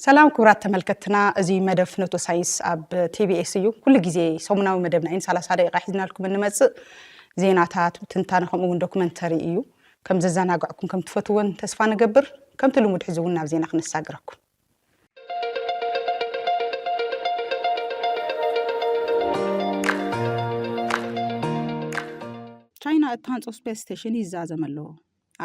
ሰላም ክብራት ተመልከትና እዚ መደብ ፍኖቶ ሳይንስ ኣብ ቲቢኤስ እዩ ኩሉ ግዜ ሰሙናዊ መደብና ኢን ሰላሳ ደቂቃ ሒዝናልኩም እንመፅእ ዜናታት ትንታነ ከምኡ እውን ዶክመንተሪ እዩ ከም ዘዘናግዕኩም ከም ትፈትዎን ተስፋ ንገብር ከምቲ ልሙድ ሕዚ እውን ናብ ዜና ክነሳግረኩም ቻይና እትሃንፆ ስፔስ ስቴሽን ይዛዘም ኣሎ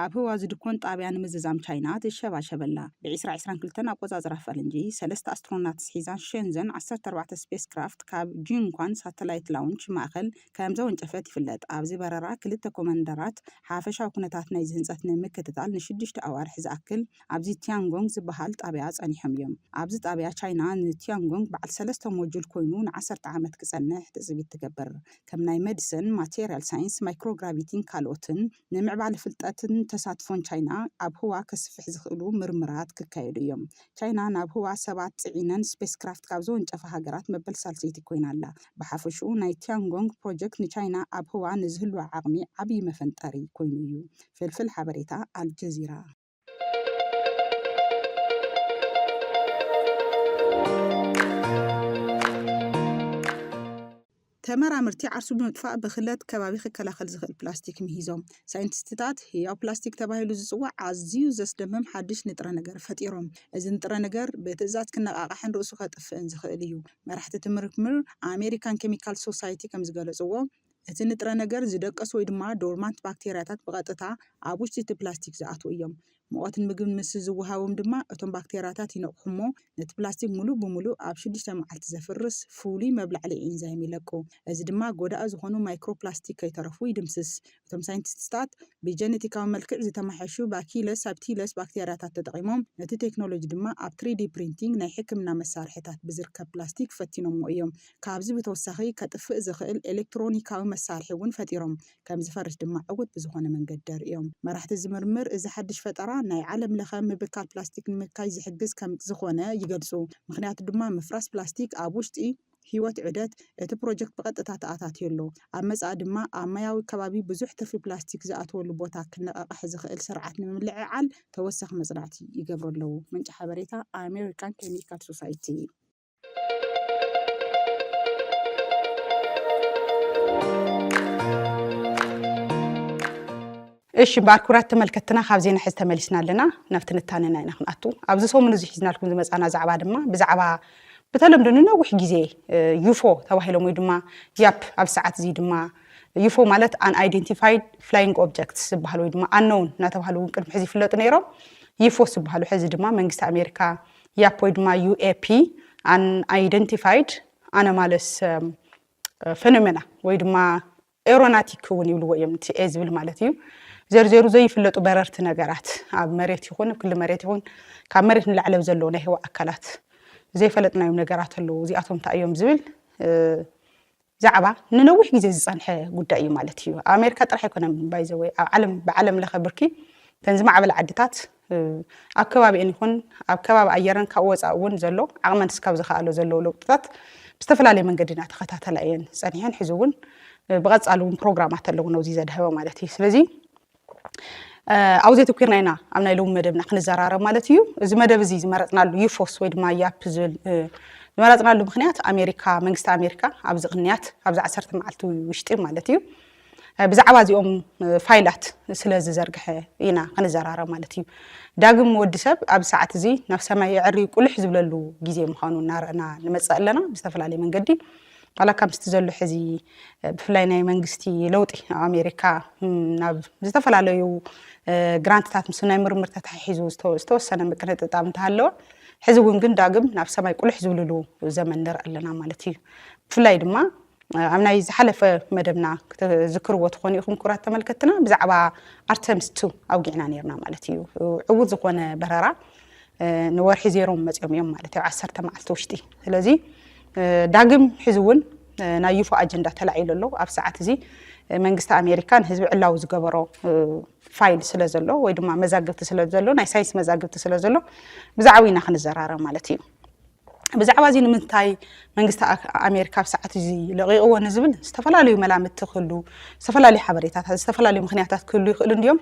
ኣብ ህዋ ዝድኮን ጣብያ ንምዝዛም ቻይና ትሸባሸብ ኣላ። ብ ዕስራ ዕስራን ክልተን ኣቆጻጽራ ፈረንጂ፣ ሰለስተ ኣስትሮናትስ ሒዛ ሸንዘን ዓሰርተ ኣርባዕተ ስፔስክራፍት ካብ ጂንኳን ሳተላይት ላውንች ማእከል ከምዘወንጨፈት ይፍለጥ። ኣብዚ በረራ ክልተ ኮመንደራት ሓፈሻዊ ኩነታት ናይዚ ህንጸት ንምክትታል ንሽዱሽተ ኣዋርሕ ዝኣክል ኣብዚ ቲያንጎንግ ዝበሃል ጣብያ ጸኒሖም እዮም። ኣብዚ ጣብያ ቻይና ን ቲያንጎንግ በዓል ሰለስተ ሞጁል ኮይኑ ን ዓሰርተ ዓመት ክጸንሕ ትጽቢት ትገብር። ከም ናይ መድስን፣ ማተርያል ሳይንስ፣ ማይክሮግራቪቲን ካልኦትን። ንምዕባለ ፍልጠትን ተሳትፎን ቻይና ኣብ ህዋ ከስፍሕ ዝኽእሉ ምርምራት ክካየዱ እዮም። ቻይና ናብ ህዋ ሰባት ጽዒነን ስፔስ ክራፍት ካብ ዘወንጨፋ ሃገራት መበል ሳልሰይቲ ኮይና ኣላ። ብሓፈሽኡ ናይ ቲያንጎንግ ፕሮጀክት ንቻይና ኣብ ህዋ ንዝህልዋ ዓቕሚ ዓብዪ መፈንጠሪ ኮይኑ እዩ። ፍልፍል ሓበሬታ ኣልጀዚራ። ተመራምርቲ ዓርሱ ብምጥፋእ ብክለት ከባቢ ክከላኸል ዝኽእል ፕላስቲክ ምሂዞም። ሳይንቲስትታት ህያው ፕላስቲክ ተባሂሉ ዝጽዋዕ ኣዝዩ ዘስደምም ሓድሽ ንጥረ ነገር ፈጢሮም። እዚ ንጥረ ነገር ብትእዛዝ ክነቓቓሕን ርእሱ ከጥፍእን ዝኽእል እዩ። መራሕቲ እቲ ምርምር ኣሜሪካን ኬሚካል ሶሳይቲ ከም ዝገለጽዎ፣ እቲ ንጥረ ነገር ዝደቀሱ ወይ ድማ ዶርማንት ባክቴርያታት ብቐጥታ ኣብ ውሽጢ እቲ ፕላስቲክ ዝኣትዉ እዮም። ሙቐትን ምግብን ምስ ዝወሃቦም ድማ እቶም ባክቴርያታት ይነቕሑ እሞ ነቲ ፕላስቲክ ምሉእ ብምሉእ ኣብ ሽዱሽተ መዓልቲ ዘፍርስ ፍሉይ መብላዕሊ ኤንዛይም ይለቁ። እዚ ድማ ጎዳኢ ዝኾኑ ማይክሮፕላስቲክ ከይተረፉ ይድምስስ። እቶም ሳይንቲስትታት ብጀነቲካዊ መልክዕ ዝተማሕየሹ ባኪለስ ሳብቲለስ ባክቴርያታት ተጠቒሞም፣ ነቲ ቴክኖሎጂ ድማ ኣብ ትሪዲ ፕሪንቲንግ ናይ ሕክምና መሳርሒታት ብዝርከብ ፕላስቲክ ፈቲኖሞ እዮም። ካብዚ ብተወሳኺ ከጥፍእ ዝኽእል ኤሌክትሮኒካዊ መሳርሒ እውን ፈጢሮም፣ ከም ዝፈርስ ድማ ዕዉት ብዝኾነ መንገዲ ኣርእዮም። መራሕቲ እዚ ምርምር፣ እዚ ሓድሽ ፈጠራ ናይ ዓለም ለኸ ምብካል ፕላስቲክ ንምብካይ ዝሕግዝ ከም ዝኾነ ይገልጹ፣ ምኽንያቱ ድማ ምፍራስ ፕላስቲክ ኣብ ውሽጢ ህይወት ዑደት እቲ ፕሮጀክት ብቐጥታ ተኣታትዮ ኣሎ፣ ኣብ መጻኢ ድማ ኣብ ማያዊ ከባቢ ብዙሕ ትርፊ ፕላስቲክ ዝኣትወሉ ቦታ ክነቓቕሕ ዝኽእል ስርዓት ንምምልዕዓል ተወሳኺ መጽናዕቲ ይገብሩ ኣለዉ። ምንጪ ሓበሬታ፣ ኣሜሪካን ኬሚካል ሶሳይቲን። እሺ እምበኣር ክብራት ተመልከትና ካብ ዜና ሕዚ ተመሊስና ኣለና ናብ ትንታነና ኢና ክንኣቱ ኣብዚ ሰሙን እዚ ሒዝናልኩም ዝመፃና ዛዕባ ድማ ብዛዕባ ብተለምዶ ንነዊሕ ግዜ ዩፎ ተባሂሎም ወይ ድማ ያፕ ኣብ ሰዓት እዚ ድማ ዩፎ ማለት ኣን ኣይደንቲፋይድ ፍላይንግ ኦብጀክት ዝበሃል ወይ ድማ ኣነውን እናተባሃሉ እውን ቅድሚ ሕዚ ይፍለጡ ነይሮም ዩፎስ ዝበሃሉ ሕዚ ድማ መንግስቲ ኣሜሪካ ያፕ ወይ ድማ UAP Unidentified Anomalous Phenomena ወይ ድማ ኤሮናቲክ እውን ይብልዎ እዮም እቲ ኤ ዝብል ማለት እዩ ዘርዘሩ ዘይፍለጡ በረርቲ ነገራት ኣብ መሬት ይኹን ኣብ ክሊ መሬት ይኹን ካብ መሬት ንላዕሊ ኣብ ዘለዉ ናይ ህዋ ኣካላት ዘይፈለጥናዮም ነገራት ኣለዉ እዚኣቶም እንታይ እዮም ዝብል ዛዕባ ንነዊሕ ግዜ ዝጸንሐ ጉዳይ እዩ ማለት እዩ። ኣብ ኣሜሪካ ጥራሕ ኣይኮነን ባይ ዘ ወይ ኣብ ዓለም ብዓለም ለኸ ብርኪ ተን ዝማዕበላ ዓድታት ኣብ ከባቢኤን ይኹን ኣብ ከባቢ ኣየረን ካብኡ ወፃኢ እውን ዘሎ ዓቕመን ስካብ ዝኸኣሎ ዘለዎ ለውጥታት ብዝተፈላለየ መንገዲ እናተኸታተላ እየን ፀኒሐን ሕዚ እውን ብቐፃሊ እውን ፕሮግራማት ኣለውን ኣብዚ ዘድሃበ ማለት እዩ ስለዚ ኣብኡ ዘተኲርና ኢና ኣብ ናይ ሎሚ መደብና ክንዘራረብ ማለት እዩ እዚ መደብ እዚ ዝመረፅናሉ ዩፎስ ወይ ድማ ያፕ ዝብል ዝመረፅናሉ ምክንያት ኣሜሪካ መንግስቲ ኣሜሪካ ኣብዚ ቅንያት ኣብዚ ዓሰርተ መዓልቲ ውሽጢ ማለት እዩ ብዛዕባ እዚኦም ፋይላት ስለ ዝዘርግሐ ኢና ክንዘራረብ ማለት እዩ ዳግም ወዲ ሰብ ኣብ ሰዓት እዚ ናብ ሰማይ የዕሪ ቁልሕ ዝብለሉ ግዜ ምዃኑ እናረእና ንመፅእ ኣለና ብዝተፈላለየ መንገዲ ዋላካ ምስቲ ዘሎ ሕዚ ብፍላይ ናይ መንግስቲ ለውጢ ኣብ ኣሜሪካ ናብ ዝተፈላለዩ ግራንትታት ምስ ናይ ምርምር ተታሒሒዙ ዝተወሰነ ምቅንጥጣብ እንተሃለወ ሕዚ እውን ግን ዳግም ናብ ሰማይ ቁልሕ ዝብልሉ ዘመን ንርኢ ኣለና ማለት እዩ ብፍላይ ድማ ኣብ ናይ ዝሓለፈ መደብና ክትዝክርዎ ትኾኑ ኢኹም ክቡራት ተመልከትና ብዛዕባ ኣርተምስ ቱ ኣውጊዕና ነርና ማለት እዩ ዕዉት ዝኾነ በረራ ንወርሒ ዜሮም መፅኦም እዮም ማለት ኣብ ዓሰርተ መዓልቲ ውሽጢ ስለዚ ዳግም ሕዚ እውን ናይ ዩፎ ኣጀንዳ ተላዒሉ ኣሎ ኣብ ሰዓት እዚ መንግስቲ ኣሜሪካ ንህዝቢ ዕላዊ ዝገበሮ ፋይል ስለ ዘሎ ወይ ድማ መዛግብቲ ስለ ዘሎ ናይ ሳይንስ መዛግብቲ ስለ ዘሎ ብዛዕባ ኢና ክንዘራረብ ማለት እዩ ብዛዕባ እዚ ንምንታይ መንግስቲ ኣሜሪካ ኣብ ሰዓት እዚ ለቂቕዎ ንዝብል ዝተፈላለዩ መላምቲ ክህሉ ዝተፈላለዩ ሓበሬታታት ዝተፈላለዩ ምክንያታት ክህሉ ይኽእሉ እንዲዮም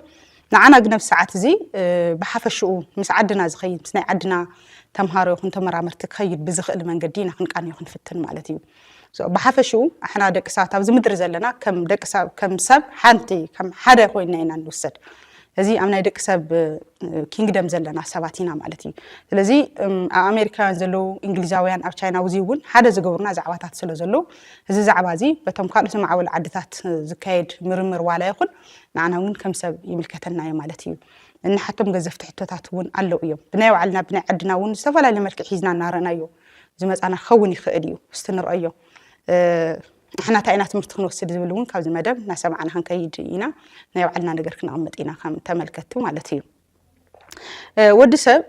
ንዓና ግን ኣብዚ ሰዓት እዚ ብሓፈሽኡ ምስ ዓድና ዝኸይድ ምስ ናይ ዓድና ተምሃሮ ይኹን ተመራመርቲ ክኸይድ ብዝኽእል መንገዲ ኢና ክንቃንዮ ክንፍትን ማለት እዩ። ብሓፈሽኡ ኣሕና ደቂ ሰባት ኣብዚ ምድሪ ዘለና ከም ደቂ ሰብ ከም ሰብ ሓንቲ ከም ሓደ ኮይና ኢና ንውሰድ። እዚ ኣብ ናይ ደቂ ሰብ ኪንግደም ዘለና ሰባት ኢና ማለት እዩ። ስለዚ ኣብ ኣሜሪካውያን ዘለዉ እንግሊዛውያን ኣብ ቻይና ውዚ እውን ሓደ ዝገብሩና ዛዕባታት ስለ ዘለዉ እዚ ዛዕባ እዚ በቶም ካልኦት ዝማዕበሉ ዓድታት ዝካየድ ምርምር ዋላ ይኹን ንዓና እውን ከም ሰብ ይምልከተና እዩ ማለት እዩ። እንሓቶም ገዘፍቲ ሕቶታት እውን ኣለው እዮም። ብናይ ባዕልና ብናይ ዓድና እውን ዝተፈላለየ መልክዕ ሒዝና እናረእናዮ ዝመፃና ክኸውን ይኽእል እዩ። እስቲ ንርኣዮ። ንሕና እንታይ ኢና ትምህርቲ ክንወስድ ዝብል እውን ካብዚ መደብ እናሰማዕና ክንከይድ ኢና። ናይ ባዕልና ነገር ክነቕምጥ ኢና ከም ተመልከትቲ ማለት እዩ። ወዲ ሰብ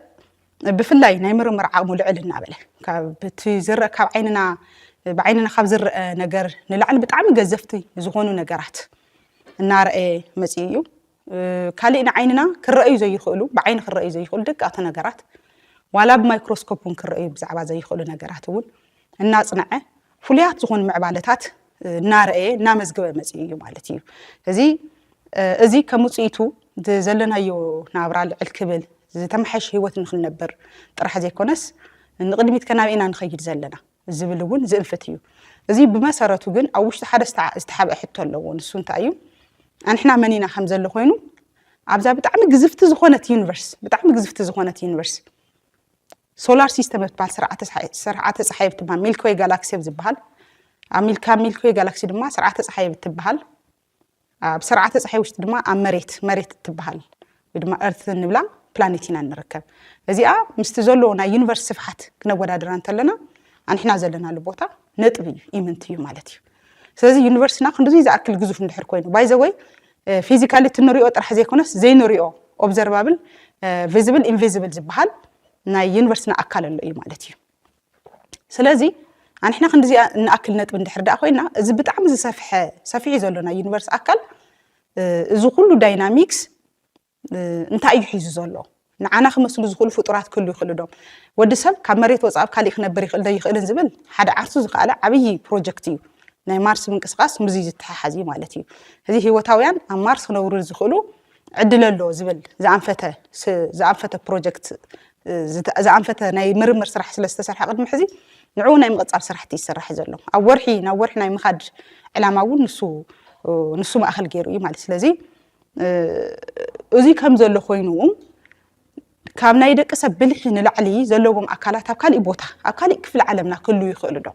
ብፍላይ ናይ ምርምር ዓቕሙ ልዕል እናበለ ካብቲ ዝርእ ካብ ዓይንና ብዓይንና ካብ ዝረአ ነገር ንላዕሊ ብጣዕሚ ገዘፍቲ ዝኾኑ ነገራት እናረኣየ መፅኡ እዩ ካሊእ ንዓይንና ክረኣዩ ዘይኽእሉ ብዓይኒ ክረኣዩ ዘይኽእሉ ደቀቕቲ ነገራት ዋላ ብማይክሮስኮፕ እውን ክረኣዩ ብዛዕባ ዘይኽእሉ ነገራት እውን እናፅነዐ ፍሉያት ዝኾኑ ምዕባለታት እናረኣየ እናመዝገበ መፂኡ እዩ ማለት እዩ። እዚ እዚ ከም ውፅኢቱ ዘለናዮ ናብራ ልዕል ክብል ዝተመሓየሸ ህይወት ንክንነብር ጥራሕ ዘይኮነስ ንቕድሚት ከ ናበይ ኢና ንኸይድ ዘለና ዝብል እውን ዝእንፍት እዩ። እዚ ብመሰረቱ ግን ኣብ ውሽጢ ሓደ ዝተሓብአ ሕቶ ኣለዎ። ንሱ እንታይ እዩ? ኣንሕና መን ኢና ከም ዘሎ ኮይኑ ኣብዛ ብጣዕሚ ግዝፍቲ ዝኾነት ዩኒቨርስ ብጣዕሚ ግዝፍቲ ዝኾነት ዩኒቨርስ ሶላር ሲስተም ኣብ ትበሃል ስርዓተ ፀሓይ ስርዓተ ፀሓይ ኣብ ትበሃል ሚልክወይ ጋላክሲ ኣብ ዝበሃል ኣብ ሚልካ ሚልክወይ ጋላክሲ ድማ ስርዓተ ፀሓይ ኣብ ትበሃል ኣብ ስርዓተ ፀሓይ ውሽጢ ድማ ኣብ መሬት መሬት እትበሃል ወይ ድማ እርት እንብላ ፕላኔት ኢና ንርከብ እዚኣ ምስቲ ዘለዎ ናይ ዩኒቨርስ ስፍሓት ክነወዳድራ እንተለና ኣንሕና ዘለናሉ ቦታ ነጥቢ እዩ ኢምንት እዩ ማለት እዩ ስለዚ ዩኒቨርስና ክንድዚ ዝኣክል ግዙፍ እንድሕር ኮይኑ ባይዘወይ ፊዚካሊ እቲ ንሪኦ ጥራሕ ዘይኮነስ ዘይንሪኦ ኦብዘርቫብል ቪዝብል ኢንቪዝብል ዝበሃል ናይ ዩኒቨርስና ኣካል ኣሎ እዩ ማለት እዩ ስለዚ ኣንሕና ክንዲዚኣ እንኣክል ነጥቢ እንድሕር ደኣ ኮይና እዚ ብጣዕሚ ዝሰፍሐ ሰፊሕ እዩ ዘሎ ናይ ዩኒቨርስ ኣካል እዚ ኩሉ ዳይናሚክስ እንታይ እዩ ሒዙ ዘሎ? ንዓና ክመስሉ ዝኽእሉ ፍጡራት ክህሉ ይኽእሉ ዶ? ወዲ ሰብ ካብ መሬት ወፃእ ኣብ ካሊእ ክነብር ይኽእል ዶ ኣይኽእልን ዝብል ሓደ ዓርሱ ዝኸኣለ ዓብዪ ፕሮጀክት እዩ። ናይ ማርስ ምንቅስቓስ ምስዚ ዝተሓሓዝ እዩ ማለት እዩ። እዚ ህይወታውያን ኣብ ማርስ ክነብሩ ዝኽእሉ ዕድል ኣሎ ዝብል ዝኣንፈተ ዝኣንፈተ ፕሮጀክት ዝኣንፈተ ናይ ምርምር ስራሕ ስለ ዝተሰርሐ ቅድሚ ሕዚ ንዕኡ ናይ ምቕፃል ስራሕቲ ይሰራሕ ዘሎ ኣብ ወርሒ ናብ ወርሒ ናይ ምኻድ ዕላማ እውን ንሱ ንሱ ማእኸል ገይሩ እዩ ማለት ስለዚ እዙይ ከም ዘሎ ኮይኑ ካብ ናይ ደቂ ሰብ ብልሒ ንላዕሊ ዘለዎም ኣካላት ኣብ ካሊእ ቦታ ኣብ ካሊእ ክፍሊ ዓለምና ክህሉ ይኽእሉ ዶ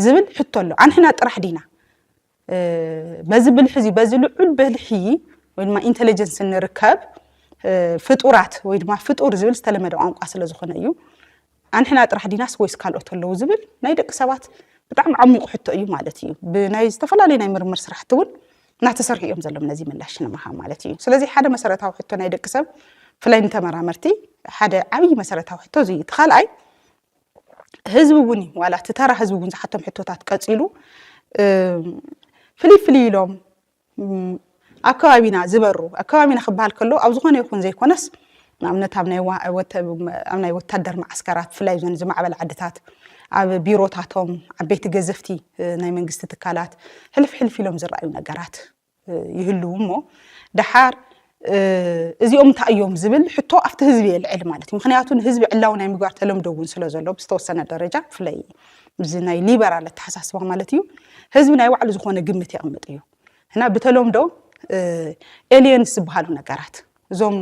ዝብል ሕቶ ኣሎ። ኣንሕና ጥራሕ ዲና በዚ ብልሒ እዚ በዚ ልዑል ብልሒ ወይ ድማ ኢንቴሊጀንስ እንርከብ ፍጡራት ወይ ድማ ፍጡር ዝብል ዝተለመደ ቋንቋ ስለ ዝኾነ እዩ። ኣንሕና ጥራሕ ዲናስ ወይስ ካልኦት ኣለዉ ዝብል ናይ ደቂ ሰባት ብጣዕሚ ዓሚቁ ሕቶ እዩ ማለት እዩ። ብናይ ዝተፈላለዩ ናይ ምርምር ስራሕቲ እውን እናተሰርሑ እዮም ዘሎም ነዚ ምላሽ ንምሃብ ማለት እዩ። ስለዚ ሓደ መሰረታዊ ሕቶ ናይ ደቂ ሰብ ብፍላይ ንተመራመርቲ ሓደ ዓብዪ መሰረታዊ ሕቶ እዚ እዩ። እቲ ካልኣይ ህዝቢ እውን እዩ ዋላ እቲ ተራ ህዝቢ እውን ዝሓቶም ሕቶታት ቀፂሉ ፍልይ ፍልይ ኢሎም ኣብ ከባቢና ዝበሩ ኣብ ከባቢና ክበሃል ከሎ ኣብ ዝኾነ ይኹን ዘይኮነስ ንኣብነት ኣብ ናይ ወታደር መዓስከራት ብፍላይ ዞን ዝማዕበል ዓድታት ኣብ ቢሮታቶም ዓበይቲ ገዘፍቲ ናይ መንግስቲ ትካላት ሕልፍ ሕልፍ ኢሎም ዝረኣዩ ነገራት ይህልው እሞ ደሓር እዚኦም እንታይ እዮም ዝብል ሕቶ ኣብቲ ህዝቢ የልዕል ማለት እዩ ምክንያቱ ንህዝቢ ዕላዊ ናይ ምግባር ተለምዶ እውን ስለ ዘሎ ብዝተወሰነ ደረጃ ብፍላይ እዚ ናይ ሊበራል ኣተሓሳስባ ማለት እዩ ህዝቢ ናይ ባዕሉ ዝኾነ ግምት የቕምጥ እዩ እና ብተለምዶ ኤሊየንስ ዝበሃሉ ነገራት እዞም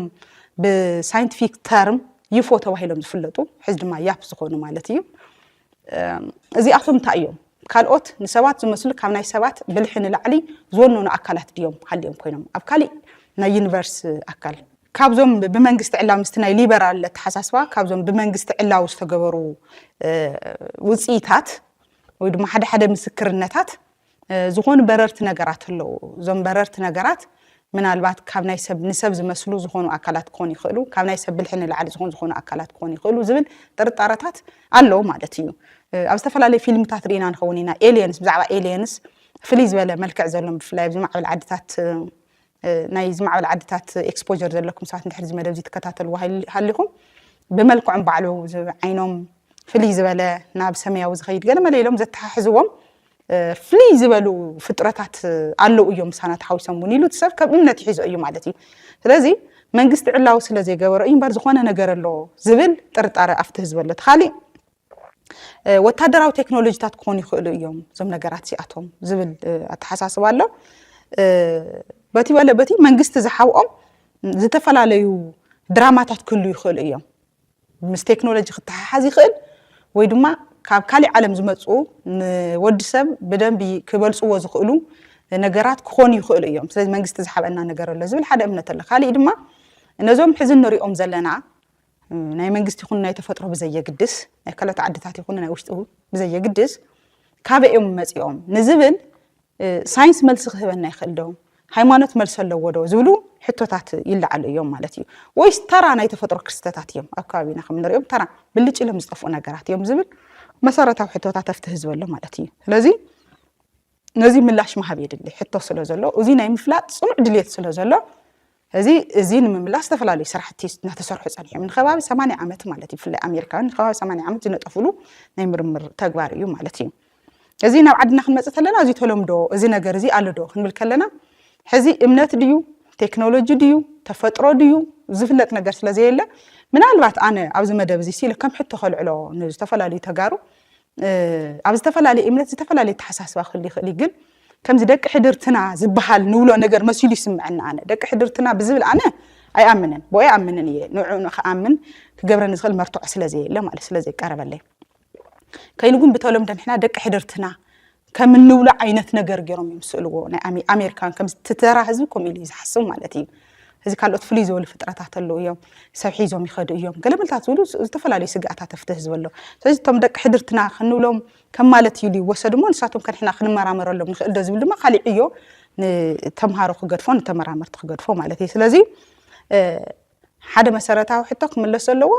ብሳይንቲፊክ ተርም ይፎ ተባሂሎም ዝፍለጡ ሕዚ ድማ ያፕ ዝኾኑ ማለት እዩ እዚኣቶም እንታይ እዮም? ካልኦት ንሰባት ዝመስሉ ካብ ናይ ሰባት ብልሒ ንላዕሊ ዝወነኑ ኣካላት ድዮም ሃልዮም ኮይኖም ኣብ ካሊእ ናይ ዩኒቨርስ ኣካል? ካብዞም ብመንግስቲ ዕላዊ ምስቲ ናይ ሊበራል ኣተሓሳስባ ካብዞም ብመንግስቲ ዕላዊ ዝተገበሩ ውፅኢታት ወይ ድማ ሓደ ሓደ ምስክርነታት ዝኾኑ በረርቲ ነገራት ኣለዉ። እዞም በረርቲ ነገራት ምናልባት ካብ ናይ ሰብ ንሰብ ዝመስሉ ዝኾኑ ኣካላት ክኾኑ ይኽእሉ፣ ካብ ናይ ሰብ ብልሒ ንላዕሊ ዝኾኑ ዝኾኑ ኣካላት ክኾኑ ይኽእሉ ዝብል ጥርጣረታት ኣሎ ማለት እዩ። ኣብ ዝተፈላለዩ ፊልምታት ርኢና ንኸውን ኢና ኤልየንስ ብዛዕባ ኤልየንስ ፍልይ ዝበለ መልክዕ ዘሎም ብፍላይ ኣብዚ ማዕበል ዓድታት ናይ ዝማዕበላ ዓድታት ኤክስፖዠር ዘለኩም ሰባት እንድሕር እዚ መደብ እዚ ትከታተልዎ ሃሊ- ሃሊኹም ብመልክዖም ባዕሉ ዝ- ዓይኖም ፍልይ ዝበለ ናብ ሰማያዊ ዝኸይድ ገለ መለ ኢሎም ዘተሓሕዝዎም እ፣ ፍልይ ዝበሉ ፍጥረታት እ፣ ኣለዉ እዮም ምሳና ተሓዊሶም እውን ኢሉ እቲ ሰብ ከም እምነት ይሒዞ እዩ ማለት እዩ ስለዚ መንግስቲ ዕላዊ ስለ ዘይገበሮ እዩ እምበር ዝኾነ ነገር ኣሎ ዝብል ጥርጣረ ኣብቲ ህዝቢ ኣሎ እቲ ካሊእ ወታደራዊ ቴክኖሎጂታት ክኾኑ ይኽእሉ እዮም እዞም ነገራት እዚኣቶም ዝብል ኣተሓሳስባ ኣሎ በቲ በለ በቲ መንግስቲ ዝሓብኦም ዝተፈላለዩ ድራማታት ክህሉ ይኽእሉ እዮም ምስ ቴክኖሎጂ ክተሓሓዝ ይኽእል ወይ ድማ ካብ ካሊእ ዓለም ዝመፁ ንወዲ ሰብ ብደንቢ ክበልፅዎ ዝኽእሉ ነገራት ክኾኑ ይኽእሉ እዮም ስለዚ መንግስቲ ዝሓበና ነገር ኣሎ ዝብል ሓደ እምነት ኣሎ ካሊእ ድማ ነዞም ሕዚ ንሪኦም ዘለና ናይ መንግስቲ ይኹን ናይ ተፈጥሮ ብዘየግድስ ናይ ካልኦት ዓድታት ይኹን ናይ ውሽጡ ብዘየግድስ ካበይ እዮም መፂኦም ንዝብል ሳይንስ መልሲ ክህበና ይኽእል ዶ ሃይማኖት መልሲ ኣለዎ ዶ ዝብሉ ሕቶታት ይለዓሉ እዮም ማለት እዩ ወይስ ተራ ናይ ተፈጥሮ ክስተታት እዮም ኣብ ከባቢና ከም ንሪኦም ተራ ብልጭ ኢሎም ዝጠፍኡ ነገራት እዮም ዝብል መሰረታዊ ሕቶታት ኣብቲ ህዝቢ ኣሎ ማለት እዩ ስለዚ ነዚ ምላሽ ምሃብ የድሊ ሕቶ ስለ ዘሎ እዚ ናይ ምፍላጥ ጽኑዕ ድልየት ስለ ዘሎ እዚ እዚ ንምምላስ ዝተፈላለዩ ስራሕቲ እናተሰርሑ ጸኒሖም ንከባቢ 80 ዓመት ማለት እዩ ብፍላይ ኣሜሪካውያን ንከባቢ 80 ዓመት ዝነጠፍሉ ናይ ምርምር ተግባር እዩ ማለት እዩ እዚ ናብ ዓድና ክንመጽእ ከለና እዚ ተለምዶ እዚ ነገር እዚ ኣሎ ዶ ክንብል ከለና ሕዚ እምነት ድዩ ቴክኖሎጂ ድዩ ተፈጥሮ ድዩ ዝፍለጥ ነገር ስለ ዘየለ ምናልባት ኣነ ኣብዚ መደብ እዚ ሲሉ ከም ሕቶ ከልዕሎ ንዝተፈላለዩ ተጋሩ ኣብ ዝተፈላለየ እምነት ዝተፈላለየ ኣተሓሳስባ ክህሉ ይኽእል እዩ ግን ከምዚ ደቂ ሕድርትና ዝበሃል ንብሎ ነገር መሲሉ ይስምዐኒ ኣነ ደቂ ሕድርትና ብዝብል ኣነ ኣይኣምንን ብኦ ኣይኣምንን እየ ንዕኡ ንክኣምን ክገብረኒ ዝኽእል መርትዖ ስለ ዘየለ ማለት ስለ ዘይቀረበለይ ከይኑ ግን ብተለምዶ ንሕና ደቂ ሕድርትና ከም እንብሎ ዓይነት ነገር ገይሮም እዮም ዝስእልዎ። ናይ ኣሜ- ኣሜሪካን ከምዚ እቲ ተራ ህዝቢ ከምኡ ኢሉ እዩ ዝሓስብ ማለት እዩ። እዚ ካልኦት ፍልይ ዝበሉ ፍጥረታት ኣለዉ እዮም ሰብ ሒዞም ይኸዱ እዮም ገለመለታት ዝብሉ ስ- ዝተፈላለዩ ስግኣታት ኣብቲ ህዝቢ ኣሎ። ስለዚ እቶም ደቂ ሕድርትና ክንብሎም ከም ማለት እዩ ኢሉ ይወሰድ እሞ ንሳቶም ከንሕና ክንመራመረሎም ንኽእል ዶ ዝብል ድማ ካሊእ ዕዮ ንተምሃሮ ክገድፎ ንተመራመርቲ ክገድፎ ማለት እዩ። ስለዚ እ፣ ሓደ መሰረታዊ ሕቶ ክምለስ ዘለዎ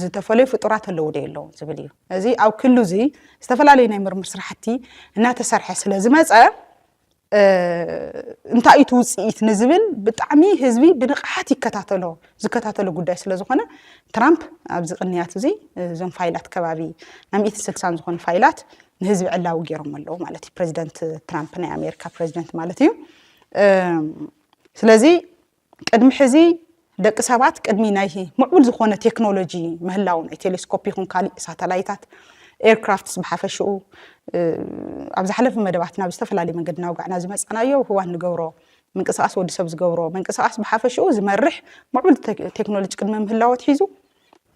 ዝተፈለዩ ፍጡራት ኣለዉ ዶ የለዉን ዝብል እዩ። እዚ ኣብ ክሉ እዚ ዝተፈላለዩ ናይ ምርምር ስራሕቲ እናተሰርሐ ስለ ዝመፀ እንታይ እቲ ውፅኢት ንዝብል ብጣዕሚ ህዝቢ ብንቕሓት ይከታተሎ ዝከታተሎ ጉዳይ ስለ ዝኾነ ትራምፕ ኣብዚ ቅንያት እዚ እዞም ፋይላት ከባቢ ናይ ሚእቲ ስልሳን ዝኾኑ ፋይላት ንህዝቢ ዕላዊ ገይሮም ኣለዉ ማለት እዩ ፕሬዚደንት ትራምፕ ናይ ኣሜሪካ ፕሬዚደንት ማለት እዩ ስለዚ ቅድሚ ሕዚ ደቂ ሰባት ቅድሚ ናይ ምዕቡል ዝኾነ ቴክኖሎጂ ምህላው ናይ ቴሌስኮፕ ይኹን ካሊእ ሳተላይታት ኤርክራፍትስ ብሓፈሽኡ ኣብ ዝሓለፈ መደባትና ብዝተፈላለየ መንገዲ ናውጋዕና ዝመፃናዮ ህዋ ንገብሮ ምንቅስቃስ ወዲ ሰብ ዝገብሮ ምንቅስቃስ ብሓፈሽኡ ዝመርሕ ምዕቡል ቴክኖሎጂ ቅድሚ ምህላው ኣትሒዙ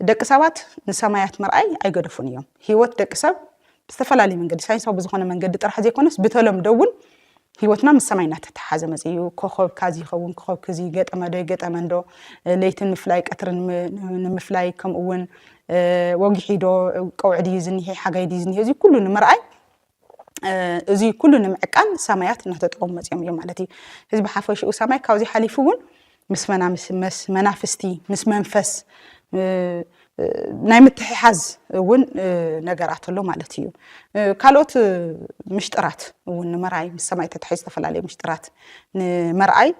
ደቂ ሰባት ንሰማያት ምርኣይ ኣይገደፉን እዮም። ህይወት ደቂ ሰብ ብዝተፈላለየ መንገዲ ሳይንሳዊ ብዝኾነ መንገዲ ጥራሕ ዘይኮነስ ብተለምዶ እውን ህይወትና ምስ ሰማይ እናተተሓሓዘ መፅኡ እዩ። ኮኸብ ካዚ ይኸውን፣ ኮኸብ ክዚ ገጠመ ዶ ይገጠመ እንዶ፣ ለይቲ ንምፍላይ ቀትሪ ንምፍላይ ከምኡ እውን ወጊሒ ዶ ቀውዒ ድዩ ዝኒሄ ሓጋይ ድዩ ዝኒሄ እዚ ኩሉ ንምርኣይ እዙይ ኩሉ ንምዕቃን ሳማያት እናተጠቐሙ መፅኦም እዮም ማለት እዩ። ህዝቢ ሓፈሽኡ ሳማይ ካብዚ ሓሊፉ እውን ምስ መናፍስቲ ምስ መንፈስ ናይ ምትሕሓዝ እውን ነገራት ኣሎ ማለት እዩ ካልኦት ምሽጥራት እውን ንምርኣይ ምስ ሰማይ ተታሒ ዝተፈላለዩ ምሽጥራት ንምርኣይ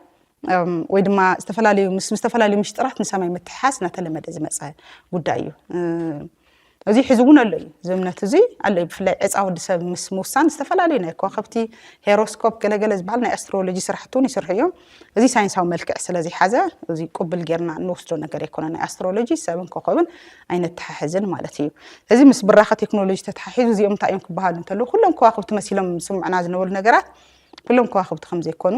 ወይ ድማ ዝተፈላለዩ ምስ ዝተፈላለዩ ምሽጥራት ንሰማይ ምትሕሓዝ እናተለመደ ዝመፀ ጉዳይ እዩ እዚ ሕዚ እውን ኣሎ እዩ እዚ እምነት እዚ ኣሎ እዩ ብፍላይ ዕፃ ወዲ ሰብ ምስ ምውሳን ዝተፈላለዩ ናይ ከዋኸብቲ ሄሮስኮፕ ገለገለ ዝበሃል ናይ ኣስትሮሎጂ ስራሕቲ እውን ይስርሑ እዮም እዚ ሳይንሳዊ መልክዕ ስለ ዘይሓዘ እዚ ቅብል ጌርና እንወስዶ ነገር ኣይኮነ ናይ ኣስትሮሎጂ ሰብን ኮኸብን ኣይነተሓሕዝን ማለት እዩ እዚ ምስ ብራኸ ቴክኖሎጂ ተተሓሒዙ እዚኦም እንታይ እዮም ክበሃሉ እንተለዉ ኩሎም ከዋክብቲ መሲሎም ስምዑና ዝነበሩ ነገራት ኩሎም ከዋኽብቲ ከም ዘይኮኑ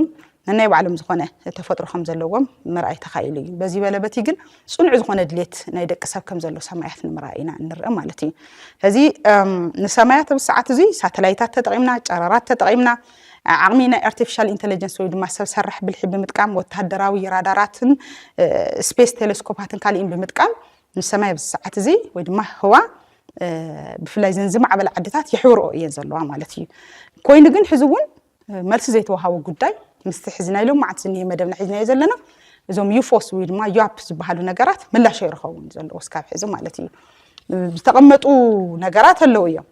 ነናይ ባዕሎም ዝኾነ ተፈጥሮ ከም ዘለዎም ምርኣይ ተኻኢሉ እዩ። በዚ በለ በቲ ግን ጽኑዕ ዝኾነ ድሌት ናይ ደቂ ሰብ ከም ዘሎ ሰማያት ንምርኣይ ኢና እንርእ ማለት እዩ። እዚ ንሰማያት ኣብ ሰዓት እዚ ሳተላይታት ተጠቒምና ጨረራት ተጠቒምና ዓቕሚ ናይ ኣርቲፊሻል ኢንቴሊጀንስ ወይ ድማ ሰብ ሰራሕ ብልሒ ብምጥቃም ወተሃደራዊ ራዳራትን ስፔስ ቴሌስኮፓትን ካሊእን ብምጥቃም ንሰማይ ኣብዚ ሰዓት እዚ ወይ ድማ ህዋ ብፍላይ እዘን ዝማዕበለ ዓድታት የሕብርኦ እየን ዘለዋ ማለት እዩ ኮይኑ ግን ሕዚ እውን መልሲ ዘይተዋሃቦ ጉዳይ ምስቲ ሕዚ ናይ ሎም መዓልቲ ዝኒሀ መደብና ሒዝናዮ ዘለና እዞም ዩፎስ ወይ ድማ ዩፕ ዝበሃሉ ነገራት ምላሽ ኣይረኸቡን ዘለዎ እስካብ ሕዚ ማለት እዩ ዝተቐመጡ ነገራት ኣለዉ እዮም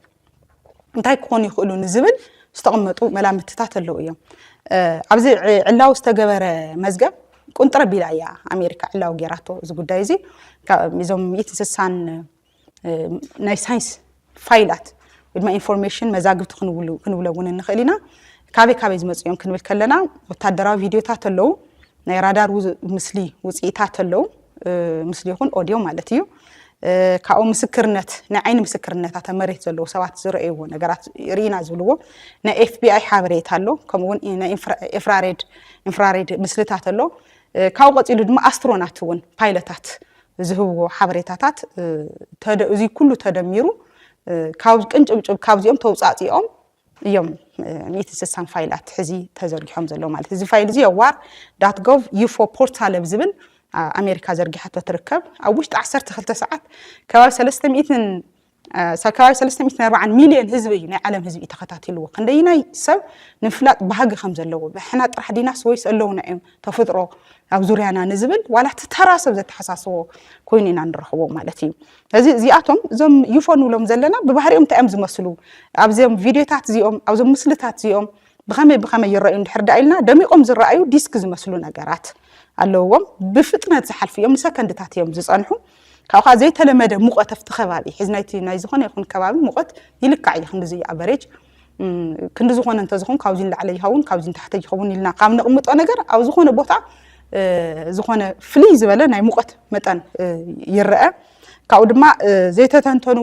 እንታይ ክኾኑ ይኽእሉ ንዝብል ዝተቐመጡ መላምትታት ኣለዉ እዮም ኣብዚ ዕላዊ ዝተገበረ መዝገብ ቁንጥረ ቢላ እያ ኣሜሪካ ዕላዊ ጌራቶ እዚ ጉዳይ እዚ እዞም ሚእት እንስሳን ናይ ሳይንስ ፋይላት ወይ ድማ ኢንፎርሜሽን መዛግብቲ ክንብሎ እውን ንኽእል ኢና ካበይ ካበይ ዝመፅኡ እዮም ክንብል ከለና ወታደራዊ ቪድዮታት ኣለዉ ናይ ራዳር ምስሊ ውፅኢታት ኣለው ምስሊ ይኹን ኦድዮ ማለት እዩ ካብኡ ምስክርነት ናይ ዓይኒ ምስክርነታት ኣብ መሬት ዘለዉ ሰባት ዝረእይዎ ነገራት ርኢና ዝብልዎ ናይ ኤፍቢኣይ ሓበሬታ ኣሎ ከምኡውን ናይ ኤፍራሬድ ኢንፍራሬድ ምስልታት ኣሎ ካብኡ ቀፂሉ ድማ ኣስትሮናት እውን ፓይለታት ዝህብዎ ሓበሬታታት እዚ ኩሉ ተደሚሩ ካብ ቅንጭብጭብ ካብዚኦም ተውፃእፂኦም እዮም ሚእቲ ስሳን ፋይላት ሕዚ ተዘርጊሖም ዘለዉ ማለት እዚ ፋይል እዚ ዋር ዳት ጎቭ ዩፎ ፖርታል ኣብ ዝብል ኣሜሪካ ዘርጊሓቶ ትርከብ ኣብ ውሽጢ 12 ሰዓት ከባቢ 300 ከባቢ 340 ሚልዮን ህዝቢ እዩ ናይ ዓለም ህዝቢ እዩ ተኸታቲልዎ ክንደይናይ ሰብ ንምፍላጥ ባህጊ ከም ዘለዎ ብሕና ጥራሕ ዲናስ ወይስ ኣለውና እዮም ተፈጥሮ ኣብ ዙርያና ንዝብል ዋላ እቲ ተራ ሰብ ዘተሓሳስቦ ኮይኑ ኢና ንረኽቦ ማለት እዩ ስለዚ እዚኣቶም እዞም ዩፎ ንብሎም ዘለና ብባህሪኦም እንታይ እዮም ዝመስሉ፣ ኣብዞም ቪድዮታት እዚኦም፣ ኣብዞም ምስልታት እዚኦም ብኸመይ ብኸመይ ይረኣዩ እንድሕር ደኣ ኢልና፣ ደሚቖም ዝረኣዩ ዲስክ ዝመስሉ ነገራት ኣለውዎም። ብፍጥነት ዝሓልፉ እዮም፣ ንሰከንድታት እዮም ዝጸንሑ። ካብኡ ከኣ ዘይተለመደ ሙቐት ኣብቲ ከባቢ፣ ሕዚ ናይቲ ናይ ዝኾነ ይኹን ከባቢ ሙቐት ይልካዕ እዩ፣ ክንድዚ እዩ ኣቨሬጅ። ክንዲ ዝኾነ እንተዝኸውን ካብዚ ንላዕለ ይኸውን ካብዚ ንታሕተ ይኸውን ኢልና ካብ ነቕምጦ ነገር ኣብ ዝኾነ ቦታ ዝኾነ ፍልይ ዝበለ ናይ ሙቐት መጠን ይረአ ካብኡ ድማ ዘይተተንተኑ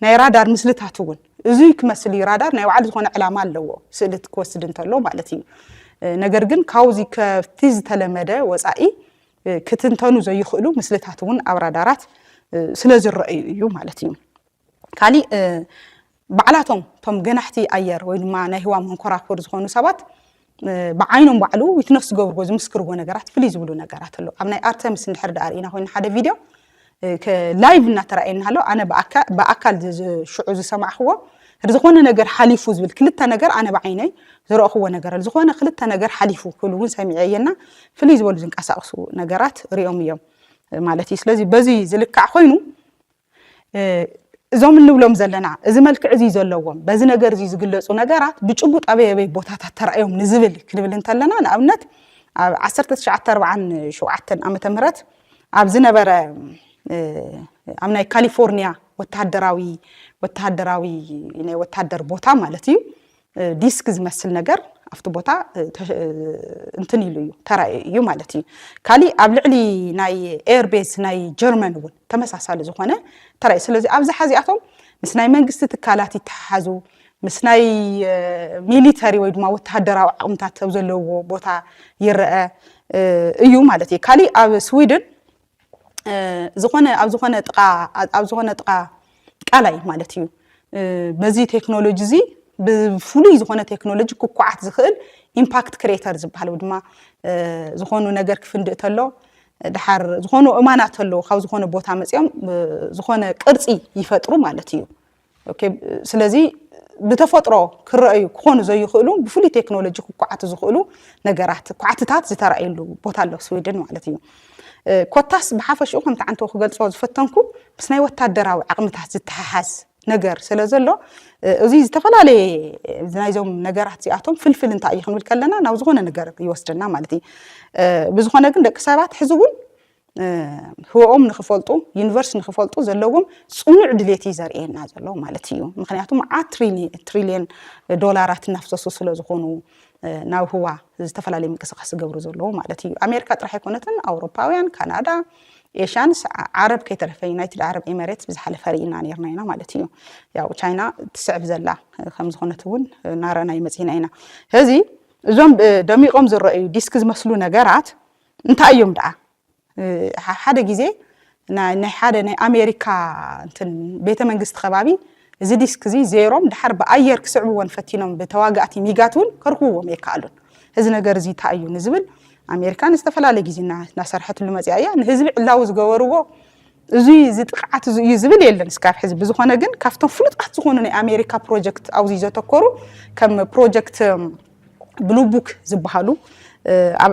ናይ ራዳር ምስልታት እውን እዚ ክመስል እዩ ራዳር ናይ ባዕሉ ዝኾነ ዕላማ ኣለዎ ስእሊ ክወስድ እንተሎ ማለት እዩ ነገር ግን ካብዚ ከብቲ ዝተለመደ ወፃኢ ክትንተኑ ዘይኽእሉ ምስልታት እውን ኣብ ራዳራት ስለ ዝረአዩ እዩ ማለት እዩ ካሊእ ባዕላቶም እቶም ገናሕቲ ኣየር ወይ ድማ ናይ ህዋ መንኮራኩር ዝኾኑ ሰባት ብዓይኖም ባዕሉ ዊትነስ ዝገብርዎ ዝምስክርዎ ነገራት ፍልይ ዝብሉ ነገራት ኣሎ ኣብ ናይ ኣርተምስ እንድሕር ዳኣ ርኢና ኮይኑ ሓደ ቪድዮ ላይቭ እናተረኣየና ኣሎ ኣነ ብኣካል ሽዑ ዝሰማዕክዎ ዝኾነ ነገር ሓሊፉ ዝብል ክልተ ነገር ኣነ ብዓይነይ ዝረእኽዎ ነገር ኣሎ ዝኾነ ክልተ ነገር ሓሊፉ ክብሉ እውን ሰሚዐ እየና ፍልይ ዝበሉ ዝንቀሳቀሱ ነገራት ሪኦም እዮም ማለት እዩ ስለዚ በዚ ዝልካዕ ኮይኑ እዞም እንብሎም ዘለና እዚ መልክዕ እዚ ዘለዎም በዚ ነገር እዚ ዝግለፁ ነገራት ብጭቡጥ ኣበይ ኣበይ ቦታታት ተራእዮም ንዝብል ክንብል እንተለና ንኣብነት ኣብ 1947 ዓመተ ምህረት ኣብ ዝነበረ ኣብ ናይ ካሊፎርኒያ ወተሃደራዊ ወተሃደራዊ ናይ ወተሃደር ቦታ ማለት እዩ ዲስክ ዝመስል ነገር ኣብቲ ቦታ እንትን ኢሉ እዩ ተራእዩ እዩ ማለት እዩ ካሊእ ኣብ ልዕሊ ናይ ኤርቤዝ ናይ ጀርመን እውን ተመሳሳሊ ዝኾነ ተራእዩ ስለዚ ኣብዝሓ እዚኣቶም ምስ ናይ መንግስቲ ትካላት ይተሓሓዙ ምስ ናይ ሚሊተሪ ወይ ድማ ወተሃደራዊ ዓቕምታት ኣብ ዘለዎ ቦታ ይረአ እዩ ማለት እዩ ካሊእ ኣብ ስዊድን ዝኾነ ኣብ ዝኾነ ጥቃ ኣብ ዝኾነ ጥቃ ቃላይ ማለት እዩ በዚ ቴክኖሎጂ እዚ ብፍሉይ ዝኾነ ቴክኖሎጂ ክኳዓት ዝኽእል ኢምፓክት ክሬተር ዝበሃል ወይ ድማ ዝኾኑ ነገር ክፍንድእ ተሎ ድሓር ዝኾኑ እማናት ኣለዉ ካብ ዝኾነ ቦታ መፅኦም ዝኾነ ቅርፂ ይፈጥሩ ማለት እዩ ስለዚ ብተፈጥሮ ክረኣዩ ክኾኑ ዘይኽእሉ ብፍሉይ ቴክኖሎጂ ክኳዓቱ ዝኽእሉ ነገራት ኳዕትታት ዝተረኣየሉ ቦታ ኣሎ ስዊድን ማለት እዩ ኮታስ ብሓፈሽኡ ከምቲ ዓንተው ክገልፆ ዝፈተንኩ ምስ ናይ ወታደራዊ ዓቕምታት ዝተሓሓዝ ነገር ስለ ዘሎ እዚ ዝተፈላለየ ናይዞም ነገራት እዚኣቶም ፍልፍል እንታይ እዩ ክንብል ከለና ናብ ዝኾነ ነገር ይወስደና ማለት እዩ ብዝኾነ ግን ደቂ ሰባት ሕዚ እውን ህወኦም ንክፈልጡ ዩኒቨርስ ንክፈልጡ ዘለዎም ፅኑዕ ድሌት እዩ ዘርእየና ዘሎ ማለት እዩ ምክንያቱ መዓት ትሪልየን ዶላራት እናፍሰሱ ስለዝኾኑ ናብ ህዋ ዝተፈላለዩ ምንቅስቃስ ዝገብሩ ዘለዉ ማለት እዩ ኣሜሪካ ጥራሕ ኣይኮነትን ኣውሮፓውያን ካናዳ ኤሽያን ዓረብ ከይተረፈ ዩናይትድ ዓረብ ኤሜሬትስ ብዝሓለፈ ርኢና ነርና ኢና ማለት እዩ ያው ቻይና ትስዕብ ዘላ ከምዝኾነት እውን ናረና ይመፅና ኢና እዚ እዞም ደሚቆም ዝረአዩ ዲስክ ዝመስሉ ነገራት እንታይ እዮም ደኣ ሓደ ግዜ ናይ ሓደ ናይ ኣሜሪካ እንትን ቤተ መንግስቲ ከባቢ እዚ ዲስክ እዚ ዜሮም ድሓር ብኣየር ክስዕብዎን ፈቲኖም ብተዋጋእቲ ሚጋት እውን ከርክብዎም የከኣሉን እዚ ነገር እዚ እንታይ እዩ ንዝብል ኣሜሪካ ንዝተፈላለየ ግዜ እናሰርሐትሉ መፅያ እያ ንህዝቢ ዕላዊ ዝገበርዎ እዙይ እዚ ጥቕዓት እዚ እዩ ዝብል የለን እስካብ ሕዚ። ብዝኾነ ግን ካብቶም ፍሉጣት ዝኾኑ ናይ ኣሜሪካ ፕሮጀክት ኣብዚ ዘተኮሩ ከም ፕሮጀክት ብሉ ቡክ ዝበሃሉ ኣብ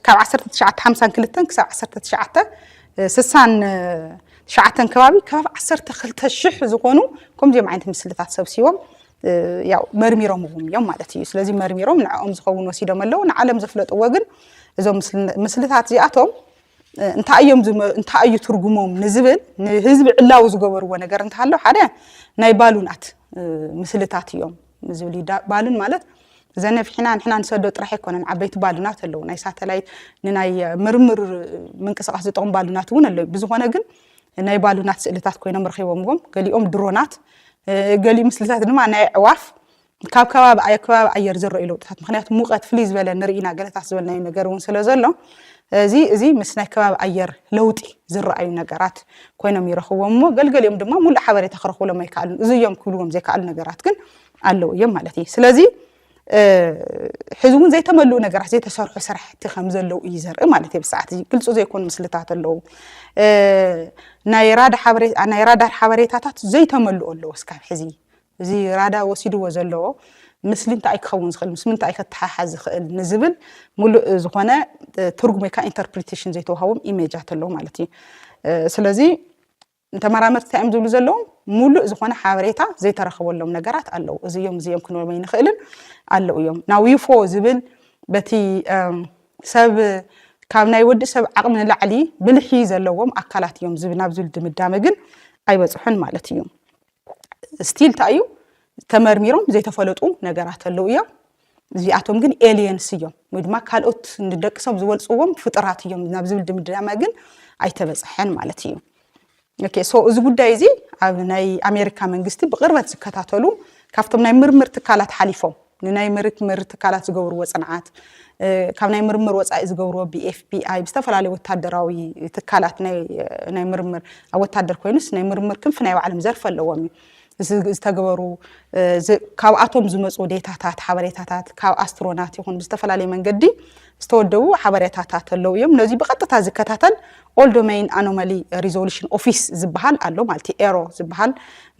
ካብ 1952 ክሳብ 1969 ከባቢ ከባቢ 12 ሽሕ ዝኾኑ ከምዚኦም ዓይነት ምስልታት ሰብሲቦም ያው መርሚሮምዎም እዮም ማለት እዩ ስለዚ መርሚሮም ንዕኦም ዝኸውን ወሲዶም ኣለዉ ንዓለም ዘፍለጥዎ ግን እዞም ምስልታት እዚኣቶም እንታይ እዮም ዝመ- እንታይ እዩ ትርጉሞም ንዝብል ንህዝቢ ዕላዊ ዝገበርዎ ነገር እንተሃሎ ሓደ ናይ ባሉናት እ፣ ምስልታት እዮም ዝብል እዩ። ዳ- ባሉን ማለት ዘነፊሕና ንሕና ንሰዶ ጥራሕ ኣይኮነን ዓበይቲ ባሉናት ኣለዉ ናይ ሳተላይት ንናይ ምርምር ምንቅስቃስ ዝጠቕሙ ባሉናት እውን ኣለዉ ብዝኾነ ግን ናይ ባሉናት ስእልታት ኮይኖም ረኺቦምዎም ገሊኦም ድሮናት እ፣ ገሊኡ ምስልታት ድማ ናይ ኣዕዋፍ ካብ ከባቢ ኣዮ ከባቢ ኣየር ዝረእዩ ለውጥታት ምክንያቱ ሙቀት ፍልይ ዝበለ ንርኢ ኢና ገለታት ዝበልናዮ ነገር እውን ስለ ዘሎ እዚ እዚ ምስ ናይ ከባቢ ኣየር ለውጢ ዝረኣዩ ነገራት ኮይኖም ይረኽብዎም እሞ ገልገሊኦም ድማ ሙሉእ ሓበሬታ ክረኽብሎም ኣይከኣሉን እዚ እዮም ክብልዎም ዘይከኣሉ ነገራት ግን ኣለዉ እዮም ማለት እዩ ስለዚ ሕዚ እውን ዘይተመልኡ ነገራት ዘይተሰርሑ ስራሕቲ ከም ዘለዉ እዩ ዘርኢ ማለት እዩ ብሰዓት እዚ ግልፁ ዘይኮኑ ምስልታት ኣለዉ ናይ ራዳር ሓበሬታታት ዘይተመልኡ ኣለዉ እስካብ ሕዚ እዚ ራዳ ወሲድዎ ዘሎ ምስሊ እንታኣይ ክኸውን ዝኽእል ምስ ምንታኣይ ከተሓሓዝ ዝኽእል ንዝብል ሙሉእ ዝኾነ ትርጉም ወይ ካዓ ኢንተርፕሪቴሽን ዘይተዋሃቦም ኢሜጃት ኣለው ማለት እዩ ስለዚ ተመራመርቲ እንታይ እዮም ዝብሉ ዘለዉ ሙሉእ ዝኾነ ሓበሬታ ዘይተረኸበሎም ነገራት ኣለው እዚ እዮም እዚ እዮም ክንብሎም ኣይንኽእልን ኣለው እዮም ናብ ዩፎ ዝብል በቲ ሰብ ካብ ናይ ወዲ ሰብ ዓቕሚ ንላዕሊ ብልሒ ዘለዎም ኣካላት እዮም ናብ ዝብል ድምዳመ ግን ኣይበፅሑን ማለት እዩ ስቲል እንታይ እዩ ተመርሚሮም ዘይተፈለጡ ነገራት ኣለዉ እዮም እዚኣቶም ግን ኤልየንስ እዮም ወይ ድማ ካልኦት ንደቂ ሰብ ዝበልፅዎም ፍጥራት እዮም ናብ ዝብል ድምዳመ ግን ኣይተበፅሐን ማለት እዩ ኦኬ ሶ እዚ ጉዳይ እዚ ኣብ ናይ ኣሜሪካ መንግስቲ ብቅርበት ዝከታተሉ ካብቶም ናይ ምርምር ትካላት ሓሊፎም ንናይ ምርትምር ትካላት ዝገብርዎ ፅንዓት ካብ ናይ ምርምር ወፃኢ ዝገብርዎ ብኤፍቢኣይ ብዝተፈላለዩ ወታደራዊ ትካላት ናይ ምርምር ኣብ ወታደር ኮይኑስ ናይ ምርምር ክንፊ ናይ ባዕሎም ዘርፊ ኣለዎም እዩ ዝተገበሩ ካብኣቶም ዝመፁ ዴታታት ሓበሬታታት ካብ ኣስትሮናት ይኹን ብዝተፈላለየ መንገዲ ዝተወደቡ ሓበሬታታት ኣለዉ እዮም። ነዚ ብቐጥታ ዝከታተል ኦል ዶመይን ኣኖማሊ ሪዞሉሽን ኦፊስ ዝበሃል ኣሎ ማለት እዩ። ኤሮ ዝበሃል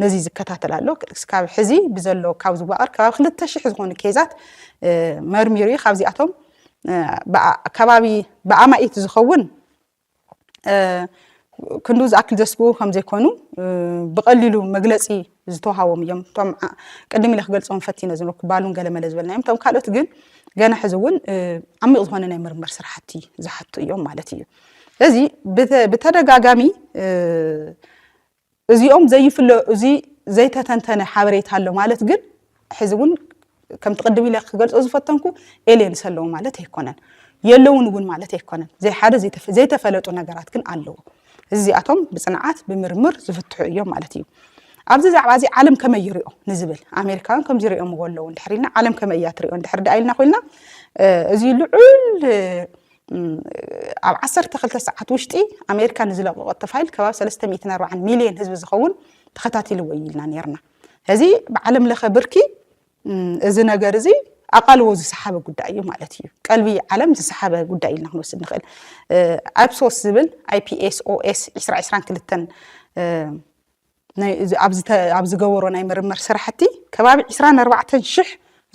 ነዚ ዝከታተል ኣሎ። እስካብ ሕዚ ብዘሎ ካብ ዝዋቐር ከባቢ ክልተ ሽሕ ዝኾኑ ኬዛት መርሚሩ እዩ። ካብዚኣቶም ከባቢ ብኣማኢት ዝኸውን ክንዱ ዝኣክል ዘስግኡ ከም ዘይኮኑ ብቐሊሉ መግለጺ ዝተዋሃቦም እዮም እቶም ቅድም ኢለ ክገልጾም ፈቲነ ዝነበርኩ ባሉን ገለመለ ዝበልናዮም እቶም ካልኦት ግን ገና ሕዚ እውን ዓሚቕ ዝኾነ ናይ ምርምር ስራሕቲ ዝሓቱ እዮም ማለት እዩ ስለዚ ብተደጋጋሚ እዚኦም ዘይፍለ እዚ ዘይተተንተነ ሓበሬታ ኣሎ ማለት ግን ሕዚ እውን ከምቲ ቅድም ኢለ ክገልፆ ዝፈተንኩ ኤልየንስ ኣለዉ ማለት ኣይኮነን የለውን እውን ማለት ኣይኮነን ዘይሓደ ዘይተፈለጡ ነገራት ግን ኣለዎ እዚኣቶም ብፅንዓት ብምርምር ዝፍትሑ እዮም ማለት እዩ ኣብዚ ዛዕባ እዚ ዓለም ከመይ ይሪኦ ንዝብል ኣሜሪካውያን ከምዚ ሪኦምዎ ኣለዉ እንድሕር ኢልና ዓለም ከመይ እያ ትሪኦ እንድሕር ደኣ ኢልና ኮይንና እዚ ልዑል ኣብ ዓሰርተ ክልተ ሰዓት ውሽጢ ኣሜሪካ ንዝለቀቀቶ ፋይል ከባቢ ሰለስተ ሚእትን ኣርባዓን ሚልዮን ህዝቢ ዝኸውን ተኸታቲልዎ እዩ ኢልና ነርና እዚ ብዓለም ለኸ ብርኪ እዚ ነገር እዚ ኣቓልቦ ዝሰሓበ ጉዳይ እዩ ማለት እዩ ቀልቢ ዓለም ዝሰሓበ ጉዳይ ኢልና ክንወስድ ንኽእል ኣይፕሶስ ዝብል ኣይፒኤስኦኤስ 222 ኣብ ዝገበሮ ናይ ምርምር ስራሕቲ ከባቢ ዕስራን ኣርባዕተን ሽሕ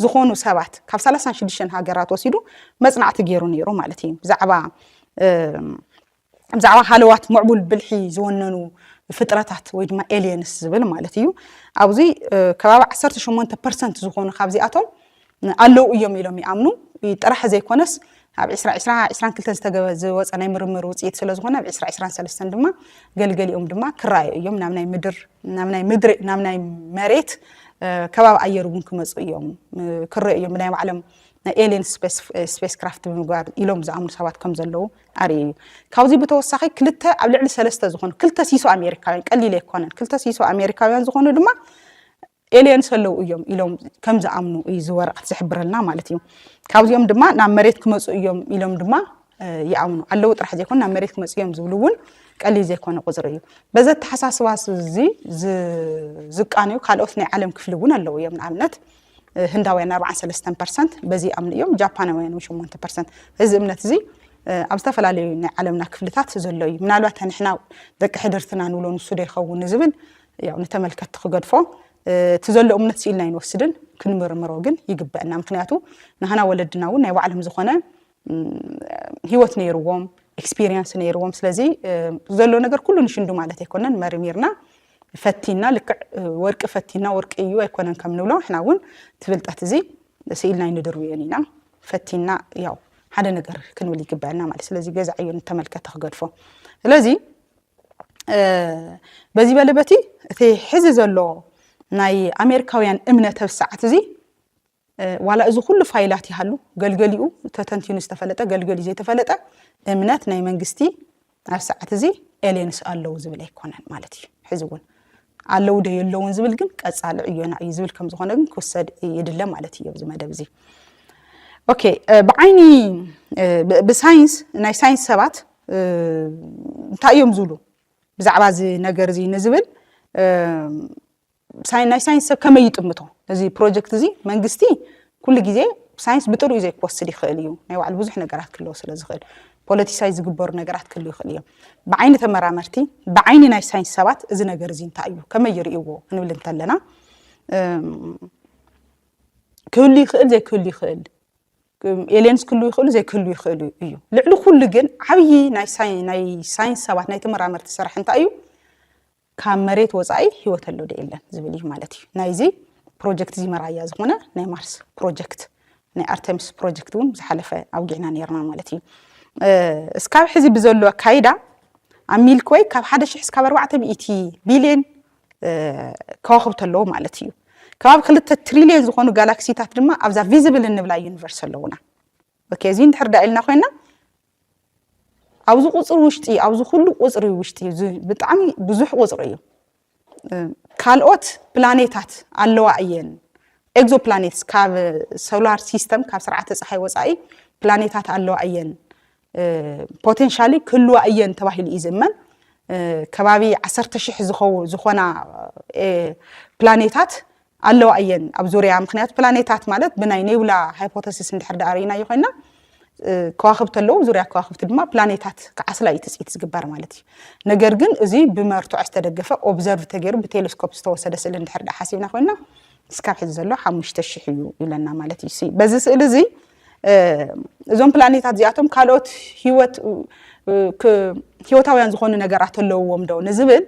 ዝኾኑ ሰባት ካብ ሰላሳን ሽዱሽተን ሃገራት ወሲዱ መፅናዕቲ ገይሩ ነይሩ ማለት እዩ ብዛዕባ ብዛዕባ ሃለዋት ምዕቡል ብልሒ ዝወነኑ ፍጥረታት ወይ ድማ ኤልየንስ ዝብል ማለት እዩ ኣብዚ ከባቢ 18 ፐርሰንት ዝኾኑ ካብዚኣቶም ኣለው እዮም ኢሎም ይኣምኑ ጥራሕ ዘይኮነስ ኣብ ዕስራ ዕስራ ዕስራን ክልተን ዝተገበ ዝወፀ ናይ ምርምር ውፅኢት ስለ ዝኾነ ኣብ ዕስራ ዕስራን ሰለስተን ድማ ገልገሊኦም ድማ ክረኣዩ እዮም ናብ ናይ ምድር ናብ ናይ ምድሪ ናብ ናይ መሬት ከባቢ ኣየር እውን ክመፁ እዮም ክረዩ እዮም ብናይ ባዕሎም ናይ ኤልየን ስፔስ ክራፍት ብምግባር ኢሎም ዝኣምኑ ሰባት ከም ዘለዉ ኣርእዩ እዩ ካብዚ ብተወሳኺ ክልተ ኣብ ልዕሊ ሰለስተ ዝኾኑ ክልተ ሲሶ ኣሜሪካውያን ቀሊል ኣይኮነን ክልተ ሲሶ ኣሜሪካውያን ዝኾኑ ድማ ኤልየንስ ኣለው እዮም ኢሎም ከም ዝኣምኑ እዩ እዚ ወረቐት ዝሕብረልና ማለት እዩ። ካብዚኦም ድማ ናብ መሬት ክመፁ እዮም ኢሎም ድማ ይኣምኑ ኣለዉ ጥራሕ ዘይኮኑ ናብ መሬት ክመፁ እዮም ዝብሉ እውን ቀሊል ዘይኮነ ቁፅሪ እዩ በዚ ኣተሓሳስባ እዚ ዝቃንዩ ካልኦት ናይ ዓለም ክፍሊ እውን ኣለዉ እዮም ንኣብነት ህንዳውያን 43 ፐርሰንት በዚ ይኣምኑ እዮም ጃፓናውያን 8 ፐርሰንት እዚ እምነት እዚ ኣብ ዝተፈላለዩ ናይ ዓለምና ክፍልታት ዘሎ እዩ ምናልባት ንሕና ደቂ ሕድርትና ንብሎ ንሱ ዶ ይኸውን ንዝብል ያው ንተመልከቲ ክገድፎ እቲ ዘሎ እምነት ስኢልና ኣይንወስድን ክንምርምሮ ግን ይግበአና ምክንያቱ ንሃና ወለድና እውን ናይ ባዕሎም ዝኾነ ህይወት ነይርዎም ኤክስፒሪየንስ ነይርዎም ስለዚ ዘሎ ነገር ኩሉ ንሽንዱ ማለት ኣይኮነን መርሚርና ፈቲና ልክዕ ወርቂ ፈቲና ወርቂ እዩ ኣይኮነን ከም ንብሎ ንሕና እውን እቲ ፍልጠት እዚ ስኢልና ኣይንድርብዮን ኢና ፈቲና ያው ሓደ ነገር ክንብል ይግበአና ማለት ስለዚ ገዛ ዕዮ ንተመልከተ ክገድፎ ስለዚ በዚ በሊ በቲ እቲ ሕዚ ዘሎ ናይ ኣሜሪካውያን እምነ ተብስዓት እዚ ዋላ እዚ ኩሉ ፋይላት ይሃሉ ገልገሊኡ ተተንቲኑ ዝተፈለጠ ገልገሊኡ ዘይተፈለጠ እምነት ናይ መንግስቲ ኣብ ሰዓት እዚ ኤልየንስ ኣለዉ ዝብል ኣይኮነን ማለት እዩ ሕዚ እውን ኣለዉ ዶ የለውን ዝብል ግን ቀፃሊ ዕዮና እዩ ዝብል ከም ዝኾነ ግን ክውሰድ ይድለ ማለት እዩ ኣብዚ መደብ እዚ ኦኬ ብዓይኒ ብሳይንስ ናይ ሳይንስ ሰባት እንታይ እዮም ዝብሉ ብዛዕባ እዚ ነገር እዚ ንዝብል ናይ ሳይንስ ሰብ ከመይ ይጥምቶ እዚ ፕሮጀክት እዚ መንግስቲ ኩሉ ግዜ ሳይንስ ብጥርኡ ዘይክወስድ ይኽእል እዩ ናይ ባዕሉ ብዙሕ ነገራት ክለዎ ስለ ዝኽእል ፖለቲሳይ ዝግበሩ ነገራት ክህሉ ይኽእል እዮም ብዓይኒ ተመራመርቲ ብዓይኒ ናይ ሳይንስ ሰባት እዚ ነገር እዚ እንታይ እዩ ከመይ ይርእይዎ ክንብል እንተለና ክህሉ ይኽእል ዘይክህሉ ይኽእል ኤልየንስ ክህልው ይኽእሉ ዘይክህልው ይኽእሉ እዩ ልዕሊ ኩሉ ግን ዓብዪ ናይ ሳይንስ ሰባት ናይ ተመራመርቲ ስራሕ እንታይ እዩ ካብ መሬት ወፃኢ ህይወት ኣሎ ዶ የለን ዝብል እዩ ማለት እዩ ናይዚ ፕሮጀክት እዚ መራያ ዝኾነ ናይ ማርስ ፕሮጀክት ናይ ኣርተሚስ ፕሮጀክት እውን ዝሓለፈ ኣውጊዕና ነርና ማለት እዩ እስካብ ሕዚ ብዘሎ ኣካይዳ ኣብ ሚልክወይ ካብ ሓደ ሽሕ እስካብ ኣርባዕተ ሚእቲ ቢልዮን ከዋኽብቲ ኣለዉ ማለት እዩ። ከባቢ ክልተ ትሪልዮን ዝኾኑ ጋላክሲታት ድማ ኣብዛ ቪዚብል እንብላ ዩኒቨርስ ኣለዉና። ኦኬ እዚ እንድሕር ዳ ኢልና ኮይና ኣብዚ ቁፅሪ ውሽጢ ኣብዚ ኩሉ ቁፅሪ ውሽጢ ብጣዕሚ ብዙሕ ቁፅሪ እዩ ካልኦት ፕላኔታት ኣለዋ እየን ኤግዞ ፕላኔትስ ካብ ሶላር ሲስተም ካብ ስርዓተ ፀሓይ ወፃኢ ፕላኔታት ኣለዋ እየን ፖቴንሻሊ ክህልዋ እየን ተባሂሉ እዩ ዝእመን። ከባቢ ዓሰርተ ሽሕ ዝኾና ፕላኔታት ኣለዋ እየን ኣብ ዙርያ ምክንያቱ ፕላኔታት ማለት ብናይ ኔብላ ሃይፖተሲስ እንድሕር ዳኣ ርኢናዮ ኮይና ከዋክብቲ ኣለዉ ዙርያ ከዋክብቲ ድማ ፕላኔታት ክዓስላ እዩ ትፅኢት ዝግበር ማለት እዩ ነገር ግን እዚ ብመርትዖ ዝተደገፈ ኦብዘርቭ ተገይሩ ብቴሌስኮፕ ዝተወሰደ ስእሊ እንድሕር ዳ ሓሲብና ኮይና እስካብ ሕዚ ዘሎ ሓሙሽተ ሽሕ እዩ ይብለና ማለት እዩ በዚ ስእሊ እዚ እዞም ፕላኔታት እዚኣቶም ካልኦት ህይወት ህይወታውያን ዝኾኑ ነገራት ኣለውዎም ዶ ንዝብል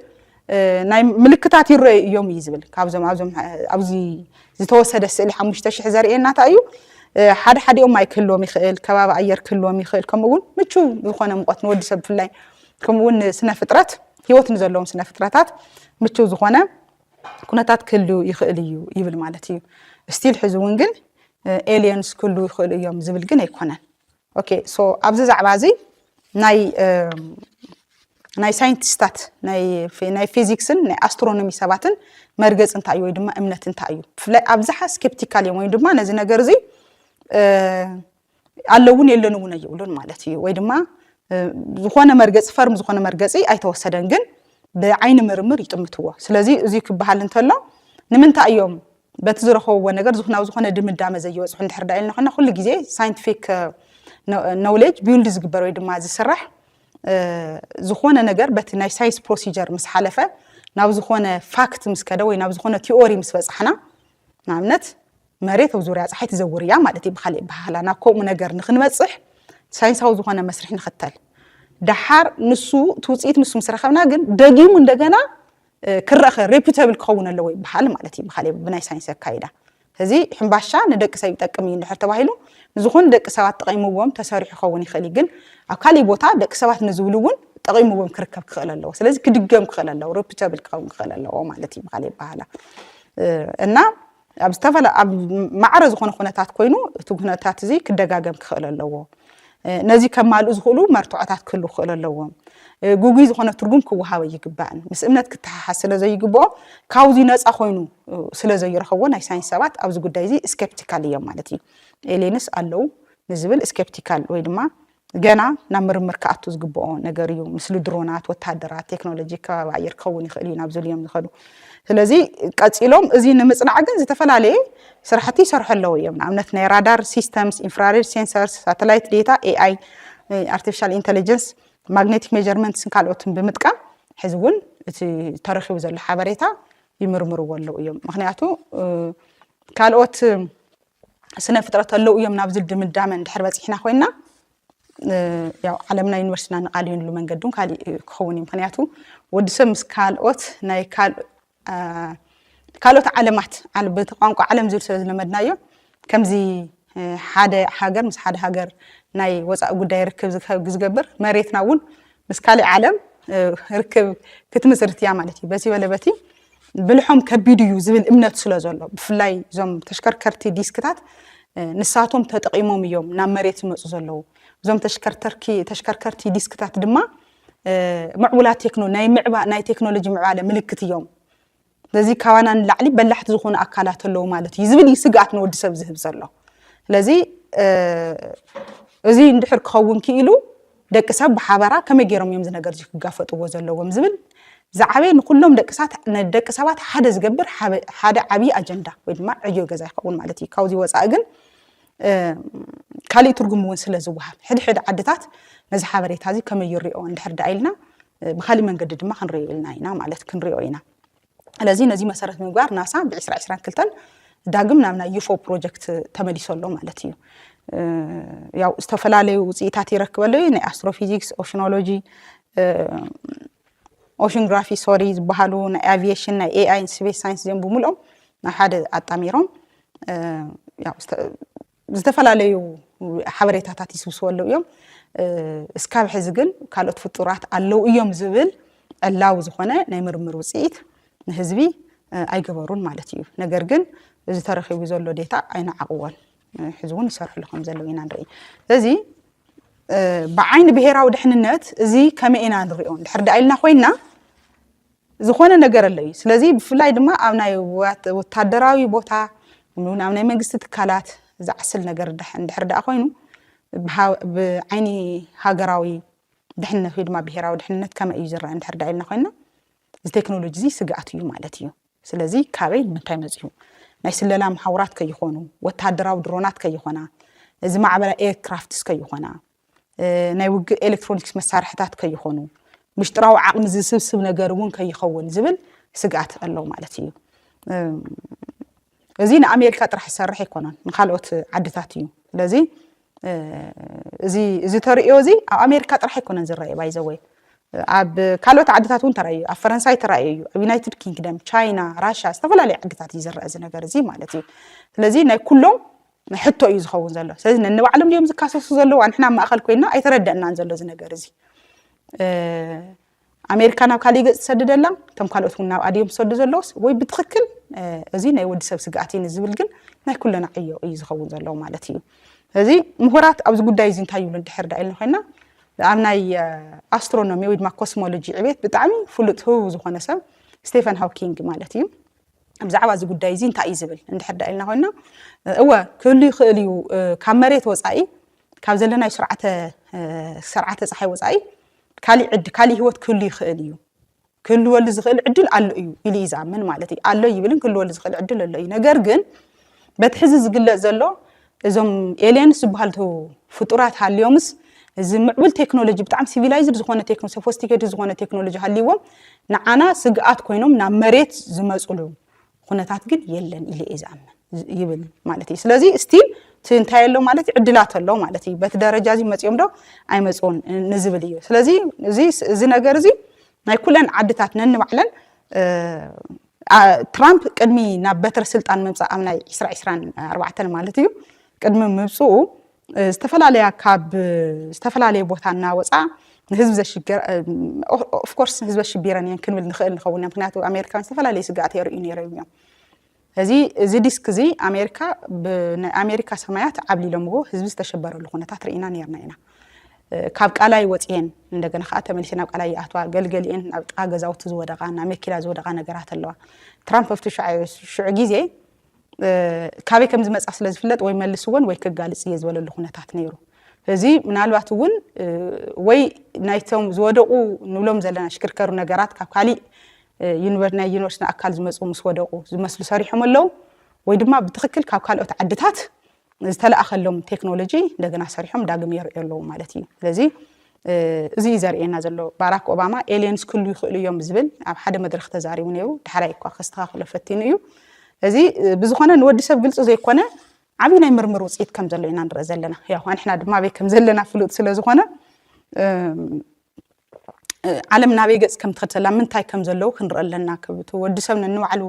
ናይ ምልክታት ይረዩ እዮም እዩ ዝብል ካብዞም ኣብዞም ኣብዚ ዝተወሰደ ስእሊ ሓሙሽተ ሽሕ ዘርእየና እንታይ እዩ ሓደ ሓዲኦም ማይ ክህልዎም ይኽእል ከባቢ ኣየር ክህልዎም ይኽእል ከምኡ እውን ምቹ ዝኾነ ሙቐት ንወዲ ሰብ ብፍላይ ከምኡ እውን ስነ ፍጥረት ህይወት ንዘለዎም ስነ ፍጥረታት ምቹ ዝኾነ ኩነታት ክህሉ ይኽእል እዩ ይብል ማለት እዩ ስቲል ሕዚ እውን ግን ኤልየንስ ክህሉ ይኽእሉ እዮም ዝብል ግን ኣይኮነን ኦኬ ሶ ኣብዚ ዛዕባ እዚ ናይ ናይ ሳይንቲስታት ናይ ፊዚክስን ናይ ኣስትሮኖሚ ሰባትን መርገፂ እንታይ እዩ ወይ ድማ እምነት እንታይ እዩ ብፍላይ ኣብዝሓ ስኬፕቲካል እዮም ወይም ድማ ነዚ ነገር እዚ ኣለውን የለን እውን ኣይብሉን ማለት እዩ ወይ ድማ ዝኾነ መርገፂ ፈርም ዝኾነ መርገፂ ኣይተወሰደን ግን ብዓይኒ ምርምር ይጥምትዎ ስለዚ እዚ ክበሃል እንተሎ ንምንታይ እዮም በቲ ዝረኸብዎ ነገር ዝናብ ዝኾነ ድምዳመ ዘይበፅሑ እንድሕር ዳ ኢልና ኮይና ኩሉ ግዜ ሳይንቲፊክ ኖውሌጅ ቢውልድ ዝግበር ወይ ድማ ዝስራሕ ዝኾነ ነገር በቲ ናይ ሳይንስ ፕሮሲጀር ምስ ሓለፈ ናብ ዝኾነ ፋክት ምስ ከደ ወይ ናብ ዝኾነ ቲኦሪ ምስ በፃሕና ንኣብነት መሬት ኣብ ዙርያ ፀሓይ ትዘውር እያ ማለት እዩ ብካሊእ ኣበሃህላ ናብ ከምኡ ነገር ንክንበፅሕ ሳይንሳዊ ዝኾነ መስርሕ ንኽተል ደሓር ንሱ እቲ ውፅኢት ንሱ ምስ ረኸብና ግን ደጊሙ እንደገና ክረኸ ሬፑተብል ክኸውን ኣለዎ ይበሃል ማለት እዩ ብካሊእ ብናይ ሳይንስ ኣካይዳ እዚ ሕምባሻ ንደቂ ሰብ ይጠቅም እዩ እንድሕር ተባሂሉ ንዝኾኑ ደቂ ሰባት ጠቒምዎም ተሰሪሑ ክኸውን ይኽእል እዩ ግን ኣብ ካሊእ ቦታ ደቂ ሰባት ንዝብሉ እውን ጠቒምዎም ክርከብ ክኽእል ኣለዎ ስለዚ ክድገም ክኽእል ኣለዎ ሬፑተብል ክኸውን ክኽእል ኣለዎ ማለት እዩ ብካሊእ ይበሃላ እና ኣብ ዝተፈላ ኣብ ማዕረ ዝኾነ ኩነታት ኮይኑ እቲ ኩነታት እዚ ክደጋገም ክኽእል ኣለዎ ነዚ ከማልኡ ዝኽእሉ መርትዖታት ክህሉ ክኽእል ኣለዎም ጉጉይ ዝኾነ ትርጉም ክወሃበ ይግባእን ምስ እምነት ክተሓሓዝ ስለ ዘይግብኦ ካብዚ ነፃ ኮይኑ ስለ ዘይረኸቦ ናይ ሳይንስ ሰባት ኣብዚ ጉዳይ እዚ ስኬፕቲካል እዮም ማለት እዩ ኤሌንስ ኣለዉ ንዝብል ስኬፕቲካል ወይ ድማ ገና ናብ ምርምር ክኣቱ ዝግብኦ ነገር እዩ። ምስሊ ድሮናት፣ ወተሃደራት፣ ቴክኖሎጂ ከባቢ ኣየር ክኸውን ይኽእል እዩ ናብ ዝብሉ እዮም ዝኸዱ። ስለዚ ቀፂሎም እዚ ንምፅናዕ ግን ዝተፈላለየ ስራሕቲ ይሰርሑ ኣለዉ እዮም። ንኣብነት ናይ ራዳር ሲስተምስ፣ ኢንፍራሬድ ሴንሰርስ፣ ሳተላይት ዴታ፣ ኤኣይ፣ ኣርቲፊሻል ኢንተሊጀንስ፣ ማግኔቲክ ሜጀርመንትስን ካልኦትን ብምጥቃም ሕዚ እውን እቲ ተረኪቡ ዘሎ ሓበሬታ ይምርምርዎ ኣለዉ እዮም። ምክንያቱ ካልኦት ስነ ፍጥረት ኣለው እዮም ናብዚ ድምዳመ እንድሕር በፂሕና ኮይና ያው ዓለምና ዩኒቨርሲቲና ንቃልየንሉ መንገዲ እውን ካሊእ ክኸውን እዩ ምክንያቱ ወዲ ሰብ ምስ ካልኦት ናይ ካልኦት ዓለማት በቲ ቋንቋ ዓለም ዝብል ስለ ዝለመድናዮ ከምዚ ሓደ ሃገር ምስ ሓደ ሃገር ናይ ወፃኢ ጉዳይ ርክብ ዝገብር መሬትና እውን ምስ ካሊእ ዓለም ርክብ ክትምስርት እያ ማለት እዩ። በዚ በለ በቲ ብልሖም ከቢድ እዩ ዝብል እምነት ስለ ዘሎ ብፍላይ እዞም ተሽከርከርቲ ዲስክታት ንሳቶም ተጠቒሞም እዮም ናብ መሬት ዝመፁ ዘለዉ እዞም ተሽከርከርቲ ዲስክታት ድማ ምዕቡላት ናይ ቴክኖሎጂ ምዕባለ ምልክት እዮም ስለዚ ካባና ንላዕሊ በላሕቲ ዝኾኑ ኣካላት ኣለዉ ማለት እዩ ዝብል እዩ ስግኣት ንወዲ ሰብ ዝህብ ዘሎ ስለዚ እዚ እንድሕር ክኸውን ክኢሉ ደቂ ሰብ ብሓበራ ከመይ ገይሮም እዮም ዝነገር እዚ ክጋፈጥዎ ዘለዎም ዝብል ዝዓበየ ንኩሎም ደቂ ሰባት ሓደ ዝገብር ሓደ ዓብዪ ኣጀንዳ ወይ ድማ ዕዮ ገዛ ይኸውን ማለት እዩ ካብዚ ወፃኢ ግን ካሊእ ትርጉም እውን ስለ ዝወሃብ ሕድ ሕድ ዓድታት ነዚ ሓበሬታ እዚ ከመይ ይሪኦ እንድሕር ዳኣ ኢልና ብካሊእ መንገዲ ድማ ክንሪኦ ኢልና ኢና ማለት ክንሪኦ ኢና ስለዚ ነዚ መሰረት ምግባር ናሳ ብ2022 ዳግም ናብ ናይ ዩፎ ፕሮጀክት ተመሊሶ ኣሎ ማለት እዩ ያው ዝተፈላለዩ ውፅኢታት ይረክበሉ እዩ ናይ ኣስትሮፊዚክስ ኦሽኖሎጂ ኦሽንግራፊ ሶሪ ዝበሃሉ ናይ ኣቪዬሽን ናይ ኤኣይ ስፔስ ሳይንስ እዚኦም ብምልኦም ናብ ሓደ ኣጣሚሮም ዝተፈላለዩ ሓበሬታታት ይስብስበሉ እዮም እስካብ ሕዚ ግን ካልኦት ፍጡራት ኣለው እዮም ዝብል ዕላዊ ዝኾነ ናይ ምርምር ውፅኢት ንህዝቢ ኣይገበሩን ማለት እዩ ነገር ግን እዚ ተረኪቡ ዘሎ ዴታ ኣይነዓቕዎን ሕዚ እውን ይሰርሕሉ ከም ዘለው ኢና ንርኢ ስለዚ ብዓይኒ ብሄራዊ ድሕንነት እዚ ከመይ ኢና ንሪኦ ድሕር ዳኢልና ኮይና ዝኾነ ነገር ኣሎ እዩ። ስለዚ ብፍላይ ድማ ኣብ ናይ ወታደራዊ ቦታ ን ኣብ ናይ መንግስቲ ትካላት ዝዓስል ነገር እንድሕር ደኣ ኮይኑ ብዓይኒ ሃገራዊ ድሕነት ወይ ድማ ብሄራዊ ድሕነት ከመይ እዩ ዝረኣ እንድሕር ደኣ ኢልና ኮይንና እዚ ቴክኖሎጂ እዚ ስግኣት እዩ ማለት እዩ። ስለዚ ካበይ ንምንታይ መጺኡ ናይ ስለላ መሓውራት ከይኾኑ ወታደራዊ ድሮናት ከይኾና እዚ ማዕበላ ኤርክራፍትስ ከይኾና ናይ ውግእ ኤሌክትሮኒክስ መሳርሕታት ከይኾኑ፣ ምሽጥራዊ ዓቕሚ ዝስብስብ ነገር እውን ከይኸውን ዝብል ስግኣት ኣሎ ማለት እዩ። እዚ ንኣሜሪካ ጥራሕ ዝሰርሕ ኣይኮነን፣ ንካልኦት ዓድታት እዩ። ስለዚ እዚ ተርእዮ እዚ ኣብ ኣሜሪካ ጥራሕ ኣይኮነን ዝረኣየ ባይዘወይ ኣብ ካልኦት ዓድታት እውን ተራእዩ ኣብ ፈረንሳይ ተራእዩ እዩ ኣብ ዩናይትድ ኪንግደም ቻይና ራሻ ዝተፈላለዩ ዓድታት እዩ ዝረአ እዚ ነገር እዚ ማለት እዩ ስለዚ ናይ ኩሎም ሕቶ እዩ ዝኸውን ዘሎ ስለዚ ነንባዕሎም ድዮም ዝካሰሱ ዘለዉ ኣንሕና ኣብ ማእኸል ኮይንና ኣይተረደእናን ዘሎ እዚ ነገር እዚ ኣሜሪካ ናብ ካሊእ ገፅ ትሰድደላ እቶም ካልኦት እውን ናብ ኣድዮም ዝሰዱ ዘለዎስ ወይ ብትክክል እዚ ናይ ወዲ ሰብ ስግኣት እዩ ንዝብል ግን ናይ ኩለና ዕዮ እዩ ዝኸውን ዘለዎ ማለት እዩ ስለዚ ምሁራት ኣብዚ ጉዳይ እዚ እንታይ ይብሉ እንድሕር ዳ ኢልና ኮይና ኣብ ናይ ኣስትሮኖሚ ወይ ድማ ኮስሞሎጂ ዕቤት ብጣዕሚ ፍሉጥ ህቡብ ዝኾነ ሰብ ስቴፈን ሃውኪንግ ማለት እዩ ብዛዕባ እዚ ጉዳይ እዚ እንታይ እዩ ዝብል እንድሕር ዳ ኢልና ኮይና እወ ክህሉ ይኽእል እዩ ካብ መሬት ወፃኢ ካብ ዘለናዩ ስርዓተ ስርዓተ ፀሓይ ወፃኢ ካሊእ ዕድ ካሊእ ህይወት ክህሉ ይኽእል እዩ ክህልወሉ ዝኽእል ዕድል ኣሎ እዩ ኢሉ እዩ ዝኣምን ማለት እዩ ኣሎ ይብልን ክህልወሉ ዝኽእል ዕድል ኣሎ እዩ ነገር ግን በቲ ሕዚ ዝግለፅ ዘሎ እዞም ኤልየንስ ዝበሃልቱ ፍጡራት ሃልዮምስ እዚ ምዕቡል ቴክኖሎጂ ብጣዕሚ ሲቪላይዝድ ዝኾነ ቴክኖ ሶፎስቲኬትድ ዝኾነ ቴክኖሎጂ ሃልይዎም ንዓና ስግኣት ኮይኖም ናብ መሬት ዝመፅሉ ኹነታት ግን የለን ኢለ እየ ዝኣምን ይብል ማለት እዩ ስለዚ ስቲል እቲ እንታይ ኣሎ ማለት እዩ ዕድላት ኣሎ ማለት እዩ በቲ ደረጃ እዚ መፅኦም ዶ ኣይመፅኡን ንዝብል እዩ ስለዚ እዚ ነገር እዚ ናይ ኩለን ዓድታት ነንባዕለን ትራምፕ ቅድሚ ናብ በትረ ስልጣን ምምፃእ ኣብ ናይ ዕስራ ዕስራን ኣርባዕተን ማለት እዩ ቅድሚ ምብፅኡ ዝተፈላለያ ካብ ዝተፈላለየ ቦታ እናወፃ ንህዝቢ ዘሽግር ኦፍኮርስ ንህዝቢ ኣሽቢረን እየን ክንብል ንኽእል ንኸውን ምክንያቱ ኣሜሪካን ዝተፈላለየ ስግኣት የርእዩ ነይሮም እዮም እዚ እዚ ዲስክ እዚ ኣሜሪካ ብናይ ኣሜሪካ ሰማያት ዓብሊሎምዎ ህዝቢ ዝተሸበረሉ ኩነታት ርኢና ነርና ኢና ካብ ቃላይ ወጺኤን እንደገና ከኣ ተመሊሰን ናብ ቃላይ ይኣትዋ። ገልገሊኤን ኣብ ጥቃ ገዛውቲ ዝወደቃ ናብ መኪና ዝወደቃ ነገራት ኣለዋ። ትራምፕ ኣብቲ ሽዑ ግዜ ካበይ ከም ዝመጻ ስለ ዝፍለጥ ወይ መልስወን ወይ ክጋልጽ እየ ዝበለሉ ኩነታት ነይሩ። እዚ ምናልባት እውን ወይ ናይቶም ዝወደቑ ንብሎም ዘለና ሽክርከሩ ነገራት ካብ ካሊእ ናይ ዩኒቨርስቲ ኣካል ዝመፁ ምስ ወደቑ ዝመስሉ ሰሪሖም ኣለዉ ወይ ድማ ብትክክል ካብ ካልኦት ዓድታት ዝተላእከሎም ቴክኖሎጂ እንደገና ሰሪሖም ዳግም የርእዮ ኣለዉ ማለት እዩ ስለዚ እዚ እዩ ዘርእየና ዘሎ ባራክ ኦባማ ኤልየንስ ክሉ ይኽእሉ እዮም ዝብል ኣብ ሓደ መድረኽ ተዛሪቡ ነይሩ ዳሕራይ እኳ ከስተኻኽሎ ፈቲኑ እዩ እዚ ብዝኾነ ንወዲ ሰብ ግልፂ ዘይኮነ ዓብዪ ናይ ምርምር ውፅኢት ከም ዘሎ ኢና ንርኢ ዘለና ያው ኣንሕና ድማ ኣበይ ከም ዘለና ፍሉጥ ስለ ዝኾነ ዓለም ናበይ ገጽ ከም ትኸድ ምንታይ ከም ዘለዉ ክንርኢ ኣለና ክብ እቲ ወዲ ሰብ ነንባዕሉ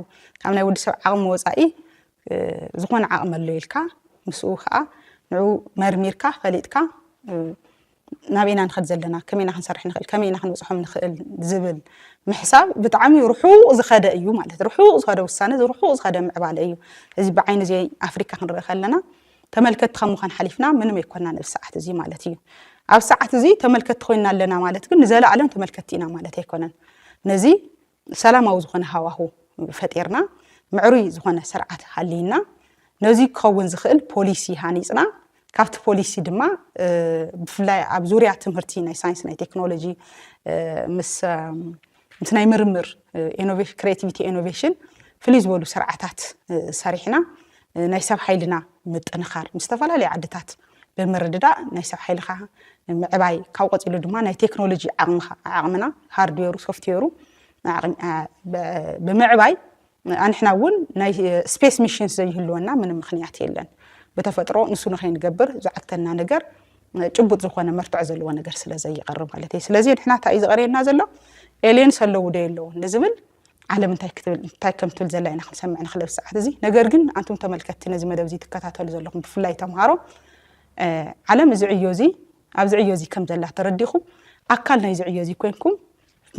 ካብ ናይ ወዲ ሰብ ዓቕሚ ወጻኢ ዝኾነ ዓቕሚ ኣሎ ኢልካ ምስኡ ከዓ ንዑ መርሚርካ ፈሊጥካ ናበይና ንኸድ ዘለና ከመይና ክንሰርሕ ንኽእል ከመይና ክንብፅሖም ንኽእል ዝብል ምሕሳብ ብጣዕሚ ርሑቕ ዝኸደ እዩ ማለት ርሑቕ ዝኸደ ውሳነ ርሑቕ ዝኸደ ምዕባለ እዩ እዚ ብዓይኒ እዚ ኣፍሪካ ክንርኢ ከለና ተመልከቲ ካብ ምዃን ሓሊፍና ምንም ኣይኮናን ኣብዚ ሰዓት እዚ ማለት እዩ። ኣብ ሰዓት እዚ ተመልከቲ ኮይና ኣለና ማለት ግን ንዘለኣለም ተመልከቲ ኢና ማለት ኣይኮነን። ነዚ ሰላማዊ ዝኾነ ሃዋሁ ፈጢርና ምዕሩይ ዝኾነ ስርዓት ሃልይና ነዚ ክኸውን ዝኽእል ፖሊሲ ሃኒፅና ካብቲ ፖሊሲ ድማ ብፍላይ ኣብ ዙርያ ትምህርቲ ናይ ሳይንስ ናይ ቴክኖሎጂ ምስ ምስ ናይ ምርምር ክሬቲቪቲ ኢኖቬሽን ፍልይ ዝበሉ ስርዓታት ሰሪሕና ናይ ሰብ ሓይልና ምጥንኻር ምስ ዝተፈላለዩ ዓድታት ብምርድዳእ ናይ ሰብ ሓይልኻ ምዕባይ ካብ ቀፂሉ ድማ ናይ ቴክኖሎጂ ዓቕምኻ ዓቕምና ሃርድዌሩ ሶፍትዌሩ ብምዕባይ ኣንሕና እውን ናይ ስፔስ ሚሽንስ ዘይህልወና ምንም ምኽንያት የለን። ብተፈጥሮ ንሱ ንኸይንገብር ዝዓግተና ነገር ጭቡጥ ዝኾነ መርትዖ ዘለዎ ነገር ስለ ዘይቐርብ ማለት እዩ። ስለዚ ንሕና እንታይ እዩ ዝቐርየና ዘሎ ኤልየንስ ኣለዉ ዶ የለዉን ንዝብል ዓለም እንታይ ክትብል እንታይ ከም ትብል ዘላ ኢና ክንሰምዕ ንኽእል ኣብዚ ሰዓት እዚ። ነገር ግን ኣንቱም ተመልከትቲ ነዚ መደብ እዚ ትከታተሉ ዘለኹም ብፍላይ ተምሃሮ ዓለም እዚ ዕዮ እዚ ኣብዚ ዕዮ እዚ ከም ዘላ ተረዲኹም ኣካል ናይዚ ዕዮ እዚ ኮንኩም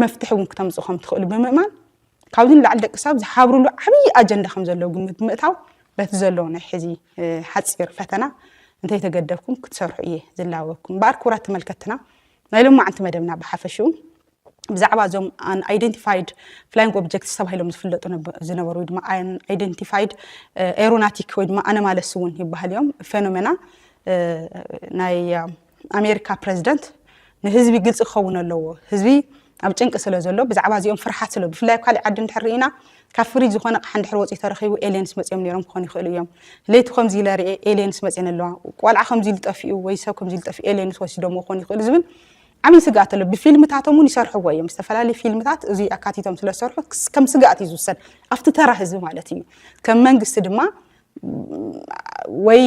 መፍትሒ እውን ክተምፅኡ ከም ትኽእሉ ብምእማን ካብዚ ንላዕሊ ደቂ ሰብ ዝሓብርሉ ዓብዪ ኣጀንዳ ከም ዘለዎ ግምት ብምእታው በቲ ዘሎ ናይ ሕዚ ሓፂር ፈተና እንተይተገደብኩም ክትሰርሑ እየ ዝላበኩም። እምበኣር ክቡራት ተመልከትና ናይ ሎማዓንቲ መደብና ብሓፈሽኡ ብዛዕባ እዞም ኣይደንቲፋይድ ፍላይንግ ኦብጀክትስ ተባሂሎም ዝፍለጡ ዝነበሩ ወይ ድማ ኣይደንቲፋይድ ኤሮናቲክ ወይ ድማ ኣነማለስ እውን ይበሃል እዮም ፌኖሜና ናይ ኣሜሪካ ፕረዚደንት ንህዝቢ ግልፂ ክኸውን ኣለዎ ህዝቢ ኣብ ጭንቂ ስለ ዘሎ ብዛዕባ እዚኦም ፍርሓት ስለ ብፍላይ ኣብ ካሊእ ዓዲ እንድሕር ርኢና ካብ ፍሪጅ ዝኾነ ቕሓ እንድሕር ወፂኡ ተረኺቡ ኤልየንስ መፂኦም ነይሮም ክኾኑ ይኽእሉ እዮም ለይቲ ከምዚ ኢለ ርኤ ኤልየንስ መፅን ኣለዋ ቆልዓ ከምዚ ኢሉ ጠፊኡ ወይ ሰብ ከምዚ ኢሉ ጠፊኡ ኤልየንስ ወሲዶም ክኾኑ ይኽእሉ ዝብል ዓብይ ስግኣት ኣሎ ብፊልምታቶም እውን ይሰርሕዎ እዮም ዝተፈላለዩ ፊልምታት እዚ ኣካቲቶም ስለዝሰርሑ ከም ስግኣት እዩ ዝውሰድ ኣብቲ ተራ ህዝቢ ማለት እዩ ከም መንግስቲ ድማ ወይ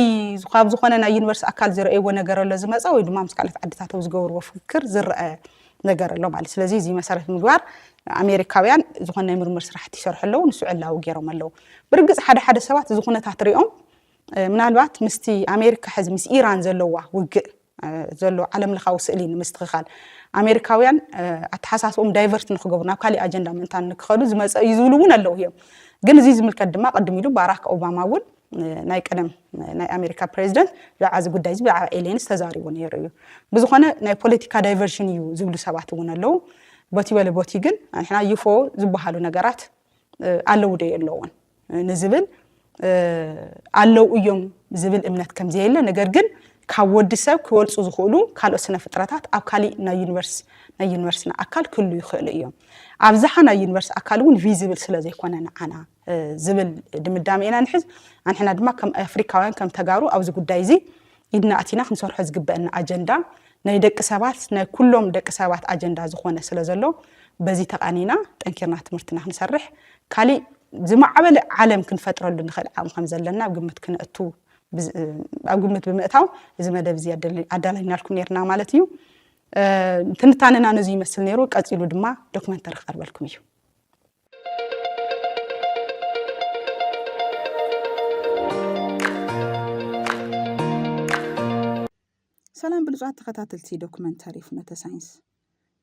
ካብ ዝኾነ ናይ ዩኒቨርሲቲ ኣካል ዝረእይዎ ነገር ኣሎ ዝመፀ ወይ ድማ ምስ ካልኦት ዓድታት ኣብ ዝገበርዎ ፍክክር ዝረአ ነገር ኣሎ ማለት ስለዚ እዚ መሰረት ምግባር ኣሜሪካውያን ዝኾነ ናይ ምርምር ስራሕቲ ይሰርሑ ኣለዉ ንሱ ዕላዊ ገይሮም ኣለዉ ብርግፅ ሓደ ሓደ ሰባት እዚ ኩነታት ሪኦም ምናልባት ምስቲ ኣሜሪካ ሕዚ ምስ ኢራን ዘለዋ ውግእ ዘሎ ዓለም ለኻዊ ስእሊ ንምስትኽኻል ኣሜሪካውያን ኣተሓሳስቦም ዳይቨርት ንክገብሩ ናብ ካሊእ ኣጀንዳ ምእንታን ንክኸዱ ዝመፀ እዩ ዝብሉ እውን ኣለዉ እዮም ግን እዚ ዝምልከት ድማ ቅድም ኢሉ ባራክ ኦባማ እውን ናይ ቀደም ናይ ኣሜሪካ ፕሬዚደንት ብዛዕባ እዚ ጉዳይ እዚ ብዛዕባ ኤልየንስ ተዛሪቡ ነይሩ እዩ ብዝኾነ ናይ ፖለቲካ ዳይቨርሽን እዩ ዝብሉ ሰባት እውን ኣለዉ ቦቲ በለ ቦቲ ግን ንሕና ዩፎ ዝበሃሉ ነገራት ኣለዉ ዶ የለውን ንዝብል ኣለው እዮም ዝብል እምነት ከምዘየለ ነገር ግን ካብ ወዲ ሰብ ክበልፁ ዝኽእሉ ካልኦት ስነ ፍጥረታት ኣብ ካሊእ ናይ ዩኒቨርስ ናይ ዩኒቨርስና ኣካል ክህሉ ይኽእሉ እዮም ኣብዝሓ ናይ ዩኒቨርስ ኣካል እውን ቪዚብል ስለ ዘይኮነ ንዓና ዝብል ድምዳሜ ኢና ንሕዝ ኣንሕና ድማ ከም ኣፍሪካውያን ከም ተጋሩ ኣብዚ ጉዳይ እዚ ኢድና ኣቲና ክንሰርሖ ዝግበእና ኣጀንዳ ናይ ደቂ ሰባት ናይ ኩሎም ደቂ ሰባት ኣጀንዳ ዝኾነ ስለ ዘሎ በዚ ተቓኒና ጠንኪርና ትምህርትና ክንሰርሕ ካሊእ ዝማዕበለ ዓለም ክንፈጥረሉ ንኽእል ዓቕሚ ከም ዘለና ኣብ ግምት ክነእቱ ኣብ ግምት ብምእታው እዚ መደብ እዚ ኣዳላይናልኩም ነርና ማለት እዩ ትንታነና ነዚ ይመስል ነይሩ ቀፂሉ ድማ ዶክመንተሪ ክቐርበልኩም እዩ ሰላም ብሉፃት ተኸታተልቲ ዶክመንተሪ ፍኖተ ሳይንስ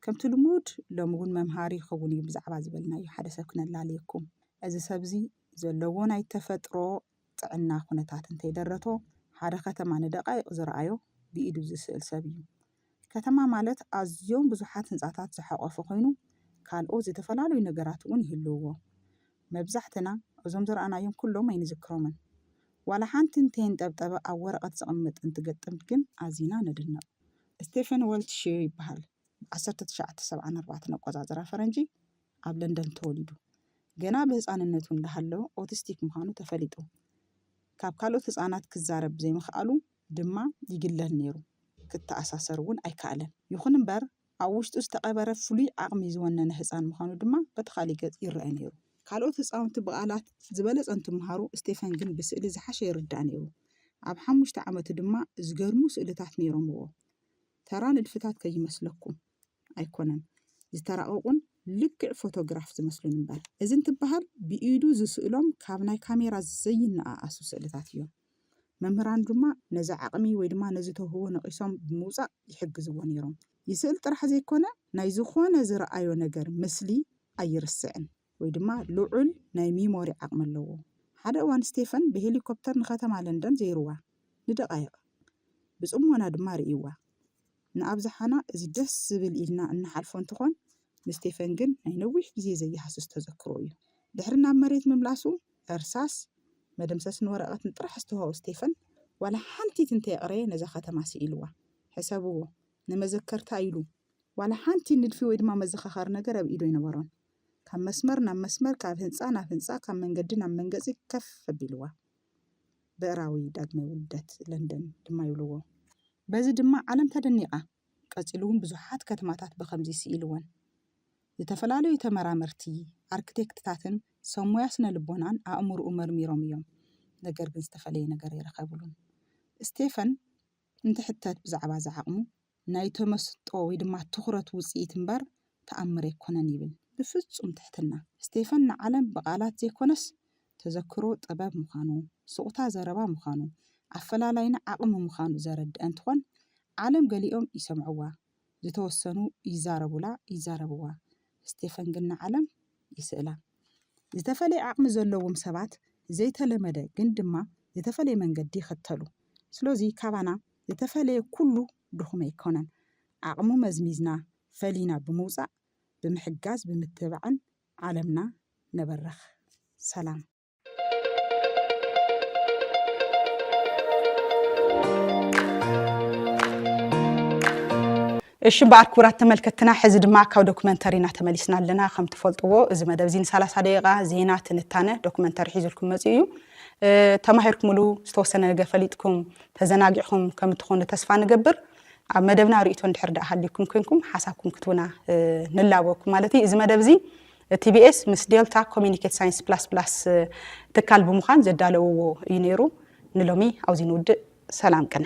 ከምቲ ልሙድ ሎሚ እውን መምሃሪ ይኸውን እዩ ብዛዕባ ዝበልናዮ ሓደ ሰብ ክነላልየኩም እዚ ሰብ እዚ ዘለዎ ናይ ተፈጥሮ ጥዕና ኩነታት እንተይደረቶ ሓደ ከተማ ንደቓይቕ ዝረኣዮ ብኢዱ ዝስእል ሰብ እዩ። ከተማ ማለት ኣዝዮም ብዙሓት ህንጻታት ዝሓቖፈ ኮይኑ ካልኦት ዝተፈላለዩ ነገራት እውን ይህልውዎ። መብዛሕትና እዞም ዝረኣናዮም ኩሎም ኣይንዝክሮምን። ዋላ ሓንቲ እንተየንጠብጠበ ኣብ ወረቐት ዝቕመጥ እንትገጥም ግን ኣዚና ንድነቕ። ስቴፈን ወልትሺር ይበሃል። ብ ዓሰርተ ትሽዓተ ሰብዓን ኣርባዕተን ኣቆጻጽራ ፈረንጂ ኣብ ለንደን ተወሊዱ። ገና ብህጻንነቱ እንዳሃለወ ኦቲስቲክ ምዃኑ ተፈሊጡ። ካብ ካልኦት ህጻናት ክዛረብ ዘይምኽኣሉ ድማ ይግለል ነይሩ፣ ክተኣሳሰር እውን ኣይከኣለን። ይኹን እምበር፣ ኣብ ውሽጡ ዝተቐበረ ፍሉይ ዓቕሚ ዝወነነ ህጻን ምዃኑ ድማ በቲ ካልእ ገጽ ይርኣ ነይሩ። ካልኦት ህጻውንቲ ብቓላት ዝበለጸ እንትመሃሩ፣ ስቴፈን ግን ብስእሊ ዝሓሸ ይርዳእ ነይሩ። ኣብ ሓሙሽተ ዓመቱ ድማ ዝገርሙ ስእልታት ነይሮምዎ። ተራ ንድፍታት ከይመስለኩም። ኣይኮነን ዝተራቐቑን ልክዕ ፎቶግራፍ ዝመስሉን እምበር እዚ እንትበሃል ብኢዱ ዝስእሎም ካብ ናይ ካሜራ ዘይነኣኣሱ ስእልታት እዮም። መምህራን ድማ ነዚ ዓቕሚ ወይ ድማ ነዚ ተውህቦ ነቒሶም ብምውፃእ ይሕግዝዎ ነይሮም። ይስእል ጥራሕ ዘይኮነ ናይ ዝኾነ ዝረኣዮ ነገር ምስሊ ኣይርስዕን። ወይ ድማ ልዑል ናይ ሚሞሪ ዓቕሚ ኣለዎ። ሓደ እዋን ስቴፈን ብሄሊኮፕተር ንከተማ ለንደን ዘይሩዋ፣ ንደቓይቕ። ብጽሞና ድማ ርእዩዋ። ንኣብዝሓና እዚ ደስ ዝብል ኢልና እንሓልፎ እንትኾን፣ ንስቴፈን ግን ናይ ነዊሕ ግዜ ዘይሃስስ ተዘክሮ እዩ። ድሕሪ ናብ መሬት ምምላሱ፣ እርሳስ፣ መደምሰስን ወረቐትን ጥራሕ ዝተዋህቦ ስቴፈን፣ ዋላ ሓንቲት እንተየቕረየ ነዛ ከተማ ስኢሉዋ። ሕሰብዎ፣ ንመዘከርታ ኢሉ ዋላ ሓንቲ ንድፊ ወይ ድማ መዘኻኸሪ ነገር ኣብ ኢዱ ኣይነበሮን። ካብ መስመር ናብ መስመር፣ ካብ ህንጻ ናብ ህንጻ፣ ካብ መንገዲ ናብ መንገጺ ከፍ ኣቢልዋ። ብዕራዊ ዳግመ ውልደት ለንደን ድማ ይብልዎ። በዚ ድማ ዓለም ተደኒቓ። ቀጺሉ እውን ብዙሓት ከተማታት ብኸምዚ ስኢልወን። ዝተፈላለዩ ተመራመርቲ፣ ኣርክቴክትታትን ሰብ ሞያ ስነ ልቦናን ኣእምሮኡ መርሚሮም እዮም፣ ነገር ግን ዝተፈለየ ነገር ኣይረኸብሉን። ስቴፈን እንትሕተት ብዛዕባ እዚ ዓቕሙ፣ ናይ ተመስጦ ወይ ድማ ትኹረት ውጽኢት እምበር ተኣምር ኣይኮነን ይብል ብፍጹም ትሕትና። ስቴፈን ንዓለም ብቓላት ዘይኮነስ ተዘክሮ ጥበብ ምዃኑ፣ ሱቕታ ዘረባ ምዃኑ፣ ኣፈላላይና ዓቕሚ ምዃኑ ዘረድእ እንትኾን ዓለም ገሊኦም ይሰምዕዋ ዝተወሰኑ ይዛረቡላ ይዛረብዋ ስቴፈን ግን ንዓለም ይስእላ። ዝተፈለየ ዓቕሚ ዘለዎም ሰባት ዘይተለመደ ግን ድማ ዝተፈለየ መንገዲ ይኽተሉ። ስሎዚ ካባና ዝተፈለየ ኩሉ ድኹም ኣይኮነን። ዓቕሙ መዝሚዝና ፈሊና ብምውፃእ ብምሕጋዝ ብምትብባዕን ዓለምና ነበርኽ። ሰላም። እሺ እምበኣር ክቡራት ተመልከትትና ሕዚ ድማ ካብ ዶክመንተሪና ተመሊስና ኣለና። ከም ትፈልጥዎ እዚ መደብ እዚ ንሳላሳ ደቂቃ ዜና፣ ትንታነ፣ ዶክመንተሪ ሒዙልኩም መፂኡ እዩ። ተማሂርኩምሉ ዝተወሰነ ነገር ፈሊጥኩም ተዘናጊዕኹም ከም እትኾኑ ተስፋ ንገብር። ኣብ መደብና ርእይቶ እንድሕር ደኣ ሃልዩኩም ኮንኩም ሓሳብኩም ክትቡና ንላበኩም ማለት እዩ። እዚ መደብ እዚ ቲቢኤስ ምስ ዴልታ ኮሚኒኬት ሳይንስ ፕላስ ፕላስ ትካል ብምዃን ዘዳለውዎ እዩ ነይሩ። ንሎሚ ኣብዚ ንውድእ ሰላም ቅነ።